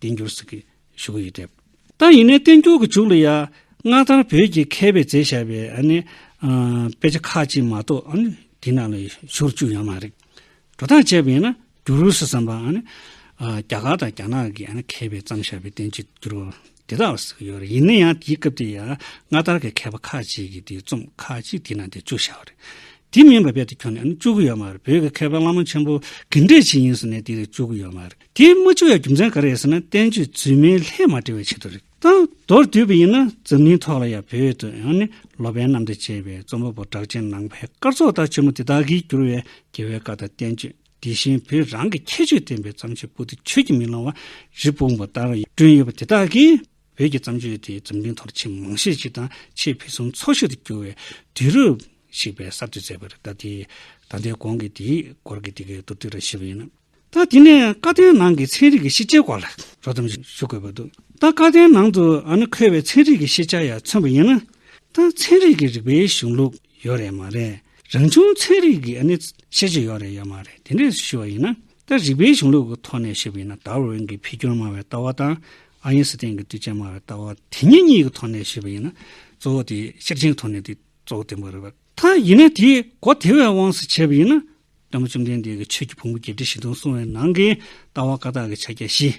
བསྟན་འགྱུར་ཟིག་གི་བཞུགས་ཡིག་སྤྲད། ད་ཡིན་ནའི་བསྟན་འགྱུར་གྱི་བཞུགས་ལ་ཡ། སྔ་དར་བོད་ཀྱི་མཁས་པའི་མཛད་བྱ་བའི། དཔེ་ཆ་ཁག་ཅིག་མ་གཏོགས། དེ་རྣམས་ལ་བཞུགས་རུ་བཅུག་ཡོད་མ་རེད། འགྲོ་སྟངས་དཔྱད་པ་ཡིན་ན་འགྱུར་རུ་སི་བསམ་པ། རྒྱ་གར་དང་རྒྱ་ནག་གི་མཁས་པས་བརྩམས་བྱ་བའི་བསྟན་བཅོས་འགྱུར་བ། དེ་དག་ལ་ཟིག་གི་ཡོད་རེད་ཡིན་ན་ཡང་དེའི་སྐབས་དེ་ཡ། སྔ་དར་གྱི་མཁས་པ་ཁག་ཅིག་གིས་དེའི་རྩོམ་ཁག་ཅིག་དེ་ནང་དེར་བཅུག་བྱ་བ་རེད། དེ་མིན་པ་རྦད་དུ་ཁྱོན་ནས་བཅུག་གི་ཡོད་མ་རེད་བོད་ཀྱི་མཁས་པ་བླ་མ་ཆེན་པོ། གི་འགྲེལ་བྱེད་ཡིན་ཟེར་ནས་དེ་རིགས་བཅུག་གི་ཡོད་མ་རེད། དེ་མ་བཅོས་ཡ་རྒྱུ་མཚན་ག་རེ་ཡོད་ཟེར་ན་བསྟན་བཅོས་རྫུན་མའི་ལྷད་མ་འབྲེལ་བའི་ཆེད་དུ་རེད་ད། མདོར་བསྡུས་པ་ཡིན་ན་འཛམ་གླིང་ཐོག་ལ་ཡང་བོད་དུ་ཡང་ནི་ལོ་པན་རྣམ་འདྲེ་ཅེས་པའི་རྩོམ་པ་པོ་གྲགས་ཅན་ནང་པའི་སྐར་ཚོགས་ལྟར་ཆེན་མོ་དེ་དག་གིས་བསྒྱུར་བའི་རྒྱལ་བའི་བཀའ་དང་བསྟན་བཅོས་དེ་བཞིན་བོད་རང་གི་ཁྱད་ཆོས་ལྡན་པའི་བརྩམས་ཆོས་པོ་ཏི་ཆོས་ཀྱི་མིག་ལོང་བ་རི་སྤུངས་པ་ལྟར་བསྐྲུན་ཡོད་པ་དེ་དག་གིས་བོད་ཀྱི་བརྩམས་ཆོས་དེ་འཛམ་གླིང་ཐོག་ལ་ཆེས་མང་ཤས་ཅིག་དང་ཆེས་ཕུན་སུམ་ཚོགས་ཤིག་ཏུ་གྱུར་བའི་དུས་རབས་ཤིག་པའི་གསར་གཏོད་མཛད་པ་རེད་ད། ད་ལྟའི་གོང་གི་དེའི་སྐོར་གྱི་དེ་གའི་མདོར་བསྡུས་ར་ཞུས་པ་ཡིན་ན། ད་དེ་ནས་བཀའ་བསྟན་ནང་གི་ཚན་རིག་གི་ཤེས་བྱའི་སྐོར་ལ་རོགས་རམ་ཞུ་དགོས་པ་འདུག་ད་བཀའ་བསྟན་ནང་དུ་ཨ་ནི་འཁོད་པའི་ཚན་རིག་གི་ཤེས་བྱ་ཡང་མཚོན་པ་ཡིན་ན། ད་ཚན་རིག་གི་རིག་པའི་གཞུང་ལུགས་ཡོད་རེད་མ་རེད། རང་བྱུང་ཚན་རིག་གི་ཨ་ནི་ཤེས་བྱ་ཡོད་རེད་ཡོད་མ་རེད་དེ་འདྲས་ཞུ་བ་ཡིན་ན། ད་རིག་པའི་གཞུང་ལུགས་ཀྱི་ཐོག་ནས་ཞུ་བ་ཡིན་ན་དར་ཝུ་ཝིན་གྱི་འཕེལ་འགྱུར་སྨྲ་བའི་ལྟ་བ་དང་ཨ་ཡིན་སི་ཐན་གྱི་དུས་ཆེན་སྨྲ་བའི་ལྟ་བ་དེ་གཉིས་གཉིས་ཀྱི་ཐོག་ནས་ཞུ་བ་ཡིན་ན། གཙོ་བོ་དེ་ཤེར་ཕྱིན་གྱི་ཐོག་ནས་དེ་གཙོ་བོ་བསྟན་པ་རེད། ཐ་ཡིན་ན་དེའི་སྒོ་དེ་བས་དབང་བསུ་བྱས་པ་ཡིན་ན། བླ་མ་བཅོམ་ལྡན་འདས་ཀྱི་ཆོས་ཀྱི་ཕུང་པོ་བརྒྱད་ཁྲི་བཞི་སྟོང་སྲུང་བའི་ནང་གི་ལྟ་བ་ཀ་དག་གི་ཕྱག་རྒྱ་བཞི།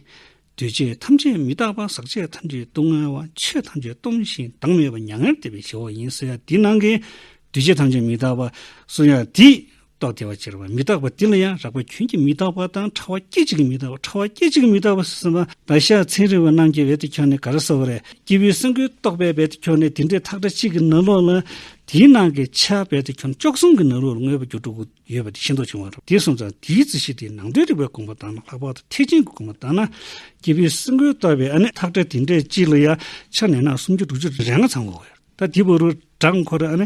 འདུས་བྱས་ཐམས་ཅད་མི་རྟག་པ་ཟག་བཅས་ཐམས་ཅད་སྡུག་བསྔལ་བ་ཆོས་ཐམས་ཅད་སྟོང་ཞིང་བདག་མེད་པ་མྱ་ངན་འདས་པའི་ཞི་བ་ཡིན་བསྲུང་ཡ་དེའི་ནང་གི་འདུས་བྱས་ཐམས་ཅད་མི་རྟག་པ་བསྲུང་ཡ་དེའི་རྟོག་བདེ་བ་ཅེར་བ་མི་རྟག་པ་འདི་ལ་ཡང་རགས་པ་ཁྱོད་ཀྱི་མི་རྟག་པ་དང་ཕྲ་བ་སྐད་ཅིག་གི་མི་རྟག་པ་ཕྲ་བ་སྐད་ཅིག་གི་མི་རྟག་པ་ཟེར་ཟིན་པ་ད་ཤ་ཚན་རིང་བ་རྣམས་ཀྱི་འོད་དུ་འཁྱོག་ནས་ག་རེ་ཟེར་བ་རེད་སྐྱེས་བུའི་སེམས་ཀུན་རྟོག་པའི་འོད་དུ་འཁྱོག་ནས་དེ་འདྲའི་ཐག་སྒྲ་གཅིག་གི་ནང་ལོགས་ལ། དེའི་ནང་གི་ཆ་འོད་དུ་འཁྱོག་ཅོག་གསུམ་གི་ནང་ལོགས་ལ་མངོན་པ་འགྱུར་དྲུག་ཡོད་པ་དེ་ཤེས་མདོག་བྱུང་བ་རེད་དེ་སོང་ཙང་དེའི་རྩིས་གཞི་དེ་ནང་དོན་རིག་པའི་དགོངས་པ་དང་ལྷག་པར་དུ་ཐེག་ཆེན་གྱི་དགོངས་པ་དང་ན། སྐྱེས་བུའི་སེམས་ཀུན་རྟོག་པའི་ཨ་ནི་ཐག་སྒྲ་དེ་འདྲའི་གཅིག་ལ་ཡང་ཆ་ནས་ན་སུམ་ཅུ་དྲུག་ཅུ་རེ་ལྔ་ཚང་བའོ། ད་དེའི་བོ་རུ་བྲག་འཁོར་ཨ་ནི་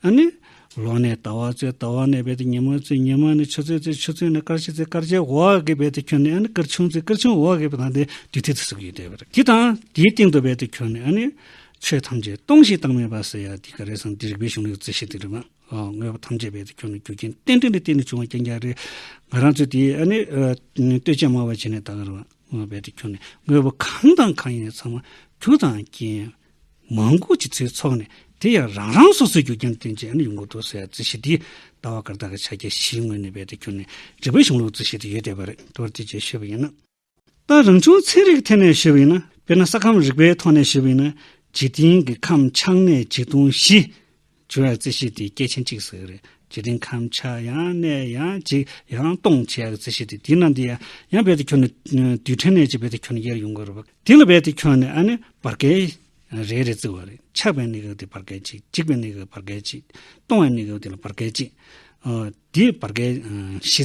ཨ་ནི། ལོག་ནས་ལྟ་བ་རྩོད་ལྟ་བ་ནས་རྦད་དེ་ཉིན་མོའི་རྩོད་ཉིན་མོ་ནས་ཆུ་ཚོད་རྩོད་ཆུ་ཚོད་ནས་སྐར་ཆའི་རྩོད་སྐར་ཆའི་འོག་གི་རྦད་དེ་ཁྱོད་ནི་ཨ་ནི་སྐར་ཆུང་རྩོད་སྐར་ཆུང་འོག་གི་རྦད་དེ་དུས་ཐིག་ཏུ་ཟུག་ཡོད་དེ། དེ་དང་དེའི་སྟེང་དུ་རྦད་དེ་ཁྱོད་ནི་ཨ་ནི། ཆོས་ཐམས་ཅད་སྟོང་ཞིང་བཏང་མེད་པ་ཟེར་ཡ་འདི་ག་རེད་བསམ་འདི་རིག་པའི་གཞུང་ལུགས་རྩོད་གཞི་དེ་རེད་མ་དངོས་པོ་ཐམས་ཅད་རྦད་དེ་ཁྱོད་ནི་རྒྱུ་རྐྱེན་རྟེན་འབྲེལ་ལས་བརྟེན་ནས་བྱུང་བ་རྐྱང་རྐྱང་རེད། ང་རང་ཚོས་དེའི་ཨ་ནི། ལྟོས་བཅས་སྨྲ་བ་བྱས་ནས་ད་ག་རེ་བ། རྦད་དེ་ཁྱོད་ནི་དངོས་པོ་གང་དང་གང་ཡིན་ཚང་མ་རྒྱུ་དང་རྐྱེན། མང་པོ་ཅིག་ཚོའི་ཚོགས་ནས་དེ་ཡང་རང་རང་སོ་སོའི་རྒྱུ་རྐྱེན་བསྟན་ཅིང་ཡུལ་མགོ་གཏོགས་སའི་རྩིས་གཞི་དེའི་ལྟ་བ་སྐར་རྟགས་ཀྱི་ཕྱག་རྒྱ་བཞིའི་ངོས་ནས་དཔལ་དུ་གྱུར་ནས་རིག་པའི་གཞུང་ལུགས་རྩིས་གཞི་དེ་ཡོད་བསྡད་པ་རེད་མདོར་བསྡུས་ཀྱིས་ཞུས་པ་ཡིན་ན། ལྟ་རང་བྱུང་ཚན་རིག་ཐད་ནས་ཞུས་པ་ཡིན་ན། དཔེར་ན་ས་ཁམས་རིག་པའི་ཐོག་ནས་ཞུས་པ་ཡིན་ན། འཇིག་རྟེན་གྱི་ཁམས་ཆགས་གནས་བྱིས་སྟོང་བཞི། བྱུང་བའི་རྩི་ཤིང་དེ་སྐྱེས་ཆེན་གཅིག་ཟེར་གྱི་རེད། དེ་རིང་ཁམས་ཆག་ཡང་གནས་ཡང་འཇིག་ཡང་སྟོང་བྱས་པའི་རྩི་ཤིང་དེ་དེ་ནང་དུ་ཡང་ཡང་རྦད་དེ་འཁྱོལ་ནས། རྡུལ་ཕྲན་ནས་ཅིག་རྦད་དེ་འཁྱོལ་ནས་དབྱེར་ཡོང་གི་རེད་པ། དེ་ལ་རྦད་དེ་འཁྱོལ་ནས་ཨ་ནི་བར་བསྐལ་རེ་རེ་བརྩི་བ་རེད། ཆགས་པའི་གནས་སྐབས་དེ་བར་བསྐལ་གཅིག་འཇིག་པའི་གནས་སྐབས་བར་བསྐལ་གཅིག། སྟོང་བའི་གནས་སྐབས་དེ་ལ་བར་བསྐལ་གཅིག། དེ་བར་བསྐལ་བཞི།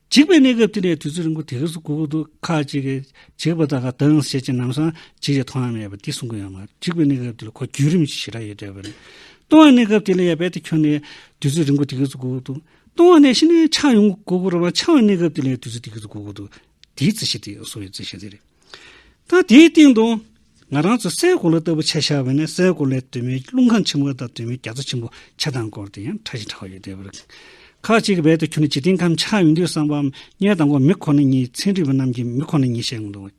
འཇིག་པའི་གནས་སྐབས་དེ་ནས་དུས་ཚོད་རིང་པོ་དེ་གར་སུ་གུ་གུ་དུ་ཁ་ཅིག་གིས་འཇིག་པ་དང་གདངས་བྱེད་ཀྱི་རྣམ་གསང་ཇི་ཡི་ཐོག་ན་མེད་པ་འདི་གསུང་གི་ཡོད་མ་རེད་འཇིག་པའི་གནས་སྐབས་དེ་ལ་ཁོ་བརྒྱུད་རིམ་གྱི་ཞེ་དྲག་ཡོད་འདོད་པ་རེད། སྟོང་བའི་གནས་སྐབས་དེ་ལ་ཡང་རྦད་དེ་ཁྱོན་ནས་དུས་ཚོད་རིང་པོ་དེ་གར་སུ་གུ་གུ་དུ། སྟོང་བ་ནས་ཤི་ནས་འཆག་ཡོང་གི་གུ་གུ་རུ་མ་འཆང་བའི་གནས་སྐབས་དེ་ལ་དུས་ཚོད་དེ་གར་སུ་གུ་གུ་དུ། དེའི་རྩི་ཤིང་དེ་ཡང་སོ་ཡི་རྩི་ཤིང་དེ་རེད། ཐང་དེའི་སྟེང་དུ། ང་རང་ཚོས་སའི་གོ་ལ་ལྟ་བུ་ཆ་བཞག་པ་ནི་སའི་གོ་ལའི་དུས་མིན་རླུང་ཁམས་ཆེན་མོ་དང་དུས་མིན་རྒྱ་མཚོ་ཆེན་པོ་ཆ་ཚང་བསྐོར་ཏེ་ཡང་ཕྲ་ཞིང་ཕྲ་བ་ཡོད་དེ། ཁག་ཅིག་གི་བེད་དུ་ཁྱོད་ནི་འཇིག་རྟེན་ཁམས་ཆགས་ཡོང་དུས་བསམ་པའམ་རྙེད་དང་གོ་མི་ཁོ་ན་ཉིད་ཚན་རིག་པ་རྣམས་ཀྱིས་མི་ཁོ་ན་ཉིད་བཤད་མི་འདུག་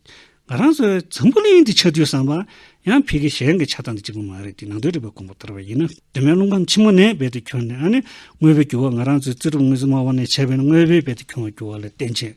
ང་རང་ཚོས་འཛམ་བུ་གླིང་འདི་ཆགས་དུས་བསམ་པ། ཡང་ཕི་གི་གཞན་གྱི་ཆགས་སྟངས་འདི་གཅིག་པུ་མ་རེད་དེ་ནང་དོན་རིག་པའི་ཁུངས་བུ་ལྟར་བ་ཡིན་ན། དུས་མིན་རླུང་ཁམས་ཆེན་མོ་ནས་བེད་དུ་ཁྱོན་ནས་ཨ་ནི་དངོས་པོའི་འགྱུར་བ་ང་རང་ཚོའི་རྩི་སྒྲུབ་དངོས་གཟུགས་སྨྲ་བ་ནས་བྱས་པའི་དངོས་པོའི་བེད་དུ་ཁྱོན་བ་འགྱུར་བ་ལ་བརྟེན་ཕྱིན།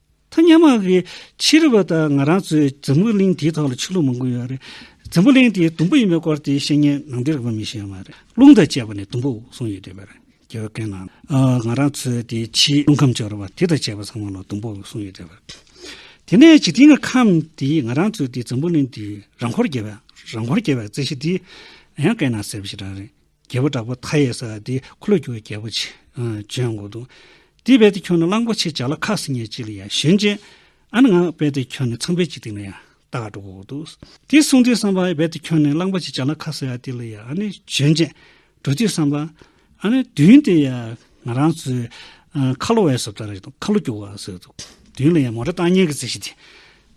ཐ་སྙད་མ་གི་ཕྱིར་བ་དང་ང་རང་ཚོས་འཛམ་བུ་གླིང་དེའི་ཐོག་ལ་ཆོས་ལུགས་མང་པོ་ཡོད་རེད། འཛམ་བུ་གླིང་དེའི་དུམ་བུ་ཡིན་པའི་སྐོར་དེའི་བཤེས་གཉེན་ནང་འདིར་བོད་མི་ཞིག་ཡང་མ་རེད། རླུང་དང་བཅས་པ་ནི་དུམ་བུ་གསུམ་ཡོད་དུས་པར་རྒྱལ་བའི་བཀའི་ནང། ང་རང་ཚོའི་དེའི་ཕྱིའི་རླུང་ཁམས་སྦྱོར་བ་དེ་དང་བཅས་པ་ཚང་མ་ལ་དུམ་བུ་གསུམ་ཡོད་དུས་པར། དེ་ནས་འཇིག་རྟེན་གྱི་ཁམས་དེའི་ང་རང་ཚོའི་དེའི་འཛམ་བུ་གླིང་དེའི་རང་འཁོར་རྒྱལ་བའི་རང་འཁོར་རྒྱལ་བའི་རྩེ་ཞིག་དེའི་ཡང་བཀའི་ནང་གསལ་བ་ཞིག་རང་རེད། རྒྱལ་པོ་དྲག་པོ་མཐའ་ཡས་ས་དེ་འཁོར་ལོས་སྒྱུར་བའི་རྒྱལ་པོ་ཆེ། བྱོན་དགོངས་དུ། དེས་དཔལ་དེ་ཁྱོད་ནི་གླང་པོ་ཆེ་བྱ་ལ་ཁ་སིང་ངེ་གཅིག་ལ་ཡང་ཞེན་ཅིང། ཨ་ནི་ང་དཔལ་དེ་ཁྱོད་ནི་ཚངས་པའི་དཔྱིད་སྟེང་ན་ཡང་ད་ག་འགྲོ་གོ། དེས་གསུངས་དེས་བསམས་པ་ཨ་ནི་དཔལ་དེ་ཁྱོད་ནི་གླང་པོ་ཆེ་བྱ་ལ་ཁ་སི་ཡ་ཏི་ལ་ཡང་ཨ་ནི་ཞེན་ཅིང། གྲོ་དེས་བསམས་པ། ཨ་ནི་བདུན་དེ་ཡང་ང་རང་ཚོའི། ཁ་ལོ་བས་སོ་ད་རེ་ཁ་ལོ་སྒྱུར་བ་ཟེར། བདུན་ལ་ཡང་མོ་ར་ཏང་སྙན་གྱི་རྩེ་ཞིག་དེ།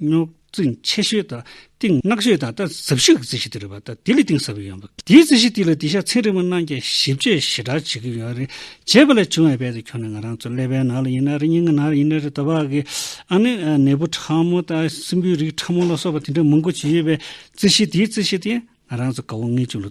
རྙོག་འཛིང་ཆེ་ཤོས་དང་གཏིང་བརྣག་ཤོས་དང་ལྟ་ཟབ་ཤོས་ཀྱི་རྩི་ཤིང་དེ་རེད་པ་ལྟ་དེ་ལས་གཏིང་ཟབ་ཡོད་མོད། དེའི་རྩི་ཤིང་དེ་ལ་དེ་ཤ་ཚན་རིང་མོ་གནང་རྐྱེན་ཞིབ་དཔྱད་ཞེ་དྲག་བྱེད་ཀྱི་ཡོད་རེད། བྱས་པ་ལས་བྱུང་བའི་དཔལ་དེ་ཁྱོན་ནས་ང་རང་ཚོའི་ཀླད་པའི་ནང་ལ་ཡིན་ན་རེད་སྙིང་གི་ནང་ལ་ཡིན་ན་རེད་ལྟ་བ་གི། ཨ་ནི་ནད་འབུ་ཕྲ་མོ་དང་སྲིན་འབུའི་རིགས་ཕྲ་མོ་ལ་སོགས་པ་དེ་འདྲ་མང་པོ་བྱས་ཡོད་པའི་རྩི་ཤིང་དེའི་རྩི་ཤིང་དེ་ང་རང་ཚོ་དགའ་བོ་ངེས་ཅན་ལོ།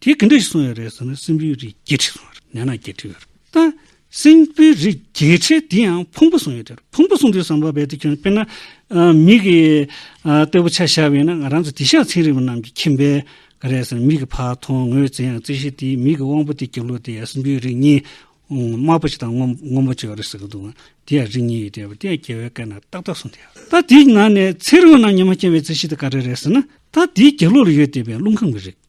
དེ་གི་འདྲ་ཞིག་གསུངས་ཡོད་རེད་ཟེར་ན་སྲིན་པོའི་རིགས་བརྒྱད་ཁྲི་གསུངས་ཡོད་རེད་ནས་ན་བརྒྱད་ཁྲི་ཡོད་རེད་ད། སྲིན་པོའི་རིགས་བརྒྱད་ཁྲི་དེ་ཡང་ཕུང་པོ་གསུངས་ཡོད་རེད་ཕུང་པོ་གསུངས་དུས་ཟམ་པ་བས་དེ་ཁྱོད་དཔེར་ན། མིག་གི་སྟོད་པོ་ཆ་བཞག་བས་ན་ང་རང་ཚོ་དེ་ཤ་ཚིག་རིང་བ་རྣམས་ཀྱི་ཁྱིམ་པས་ག་རེ་ཟེར་ན་མིག་གི་ཕ་མཐོང་ངོས་བཙལ་ཡང་བཙལ་ཤེས་དེའི་མིག་གི་དབང་པོ་དེ་རྒྱུ་ལོ་དེ་ཡང་སྲིན་པོའི་རིགས་གཉིས། དམར་པོ་གཅིག་དང་སྔོན་པོ་གཅིག་ཡོད་རེད་ཟེར་གི་འདུག་ང་དེ་ཡང་རིགས་གཉིས་ཡོད་རེད་བ་དེ་ཡང་རྒྱལ་བའི་བཀའི་ནང་ཏག་ཏག་གསུངས་དེ། ད་དེའི་ནང་ནས་ཚེ་རིང་བ་རྣམས་ཉི་མ་སྐྱེ་བའི་རྩིས་ཤིག་དེ་ག་རེ་རེད་ཟེར་ན། ད་དེའི་རྒྱུ་ལོ་ལ་ཡོད་དེ་བས་རླུང་ཁམས་ཀྱི་རིགས།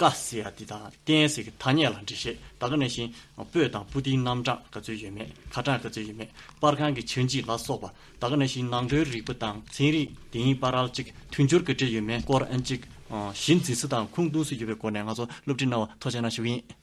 ཀ་སི་ཡ་ཏི་དང་ཀན་སི་གི་ཐ་སྙད་ལ་འགྲེལ་བཤད་ད་ག་ནས་ཤིང་སྤོས་དང་པུ་ཏིའི་རྣམ་གྲངས་ག་ཚོད་ཡོད་མེད་ཁ་གྲངས་ག་ཚོད་ཡོད་མེད་པར་ཁང་གི་ཆུ་འཇིག་ལ་སོགས་པ་ད་ག་ནས་ཤིང་ནང་དོན་རིག་པ་དང་ཚན་རིག་དེ་ཡིན་པ་རལ་ཅིག་མཐུན་སྦྱོར་ག་འདྲེས་ཡོད་མེད་སྐོར་ཨན་ཅིག་གཞི་འཛིན་སི་དང་ཁུངས་གཏུང་སི་ཡོད་པའི་སྐོར་ནས་ང་ཚོ་སློབ་ཁྲིད་གནང་བ་ཐོ་ཆེ་ན་ཞུ་གི་ཡིན།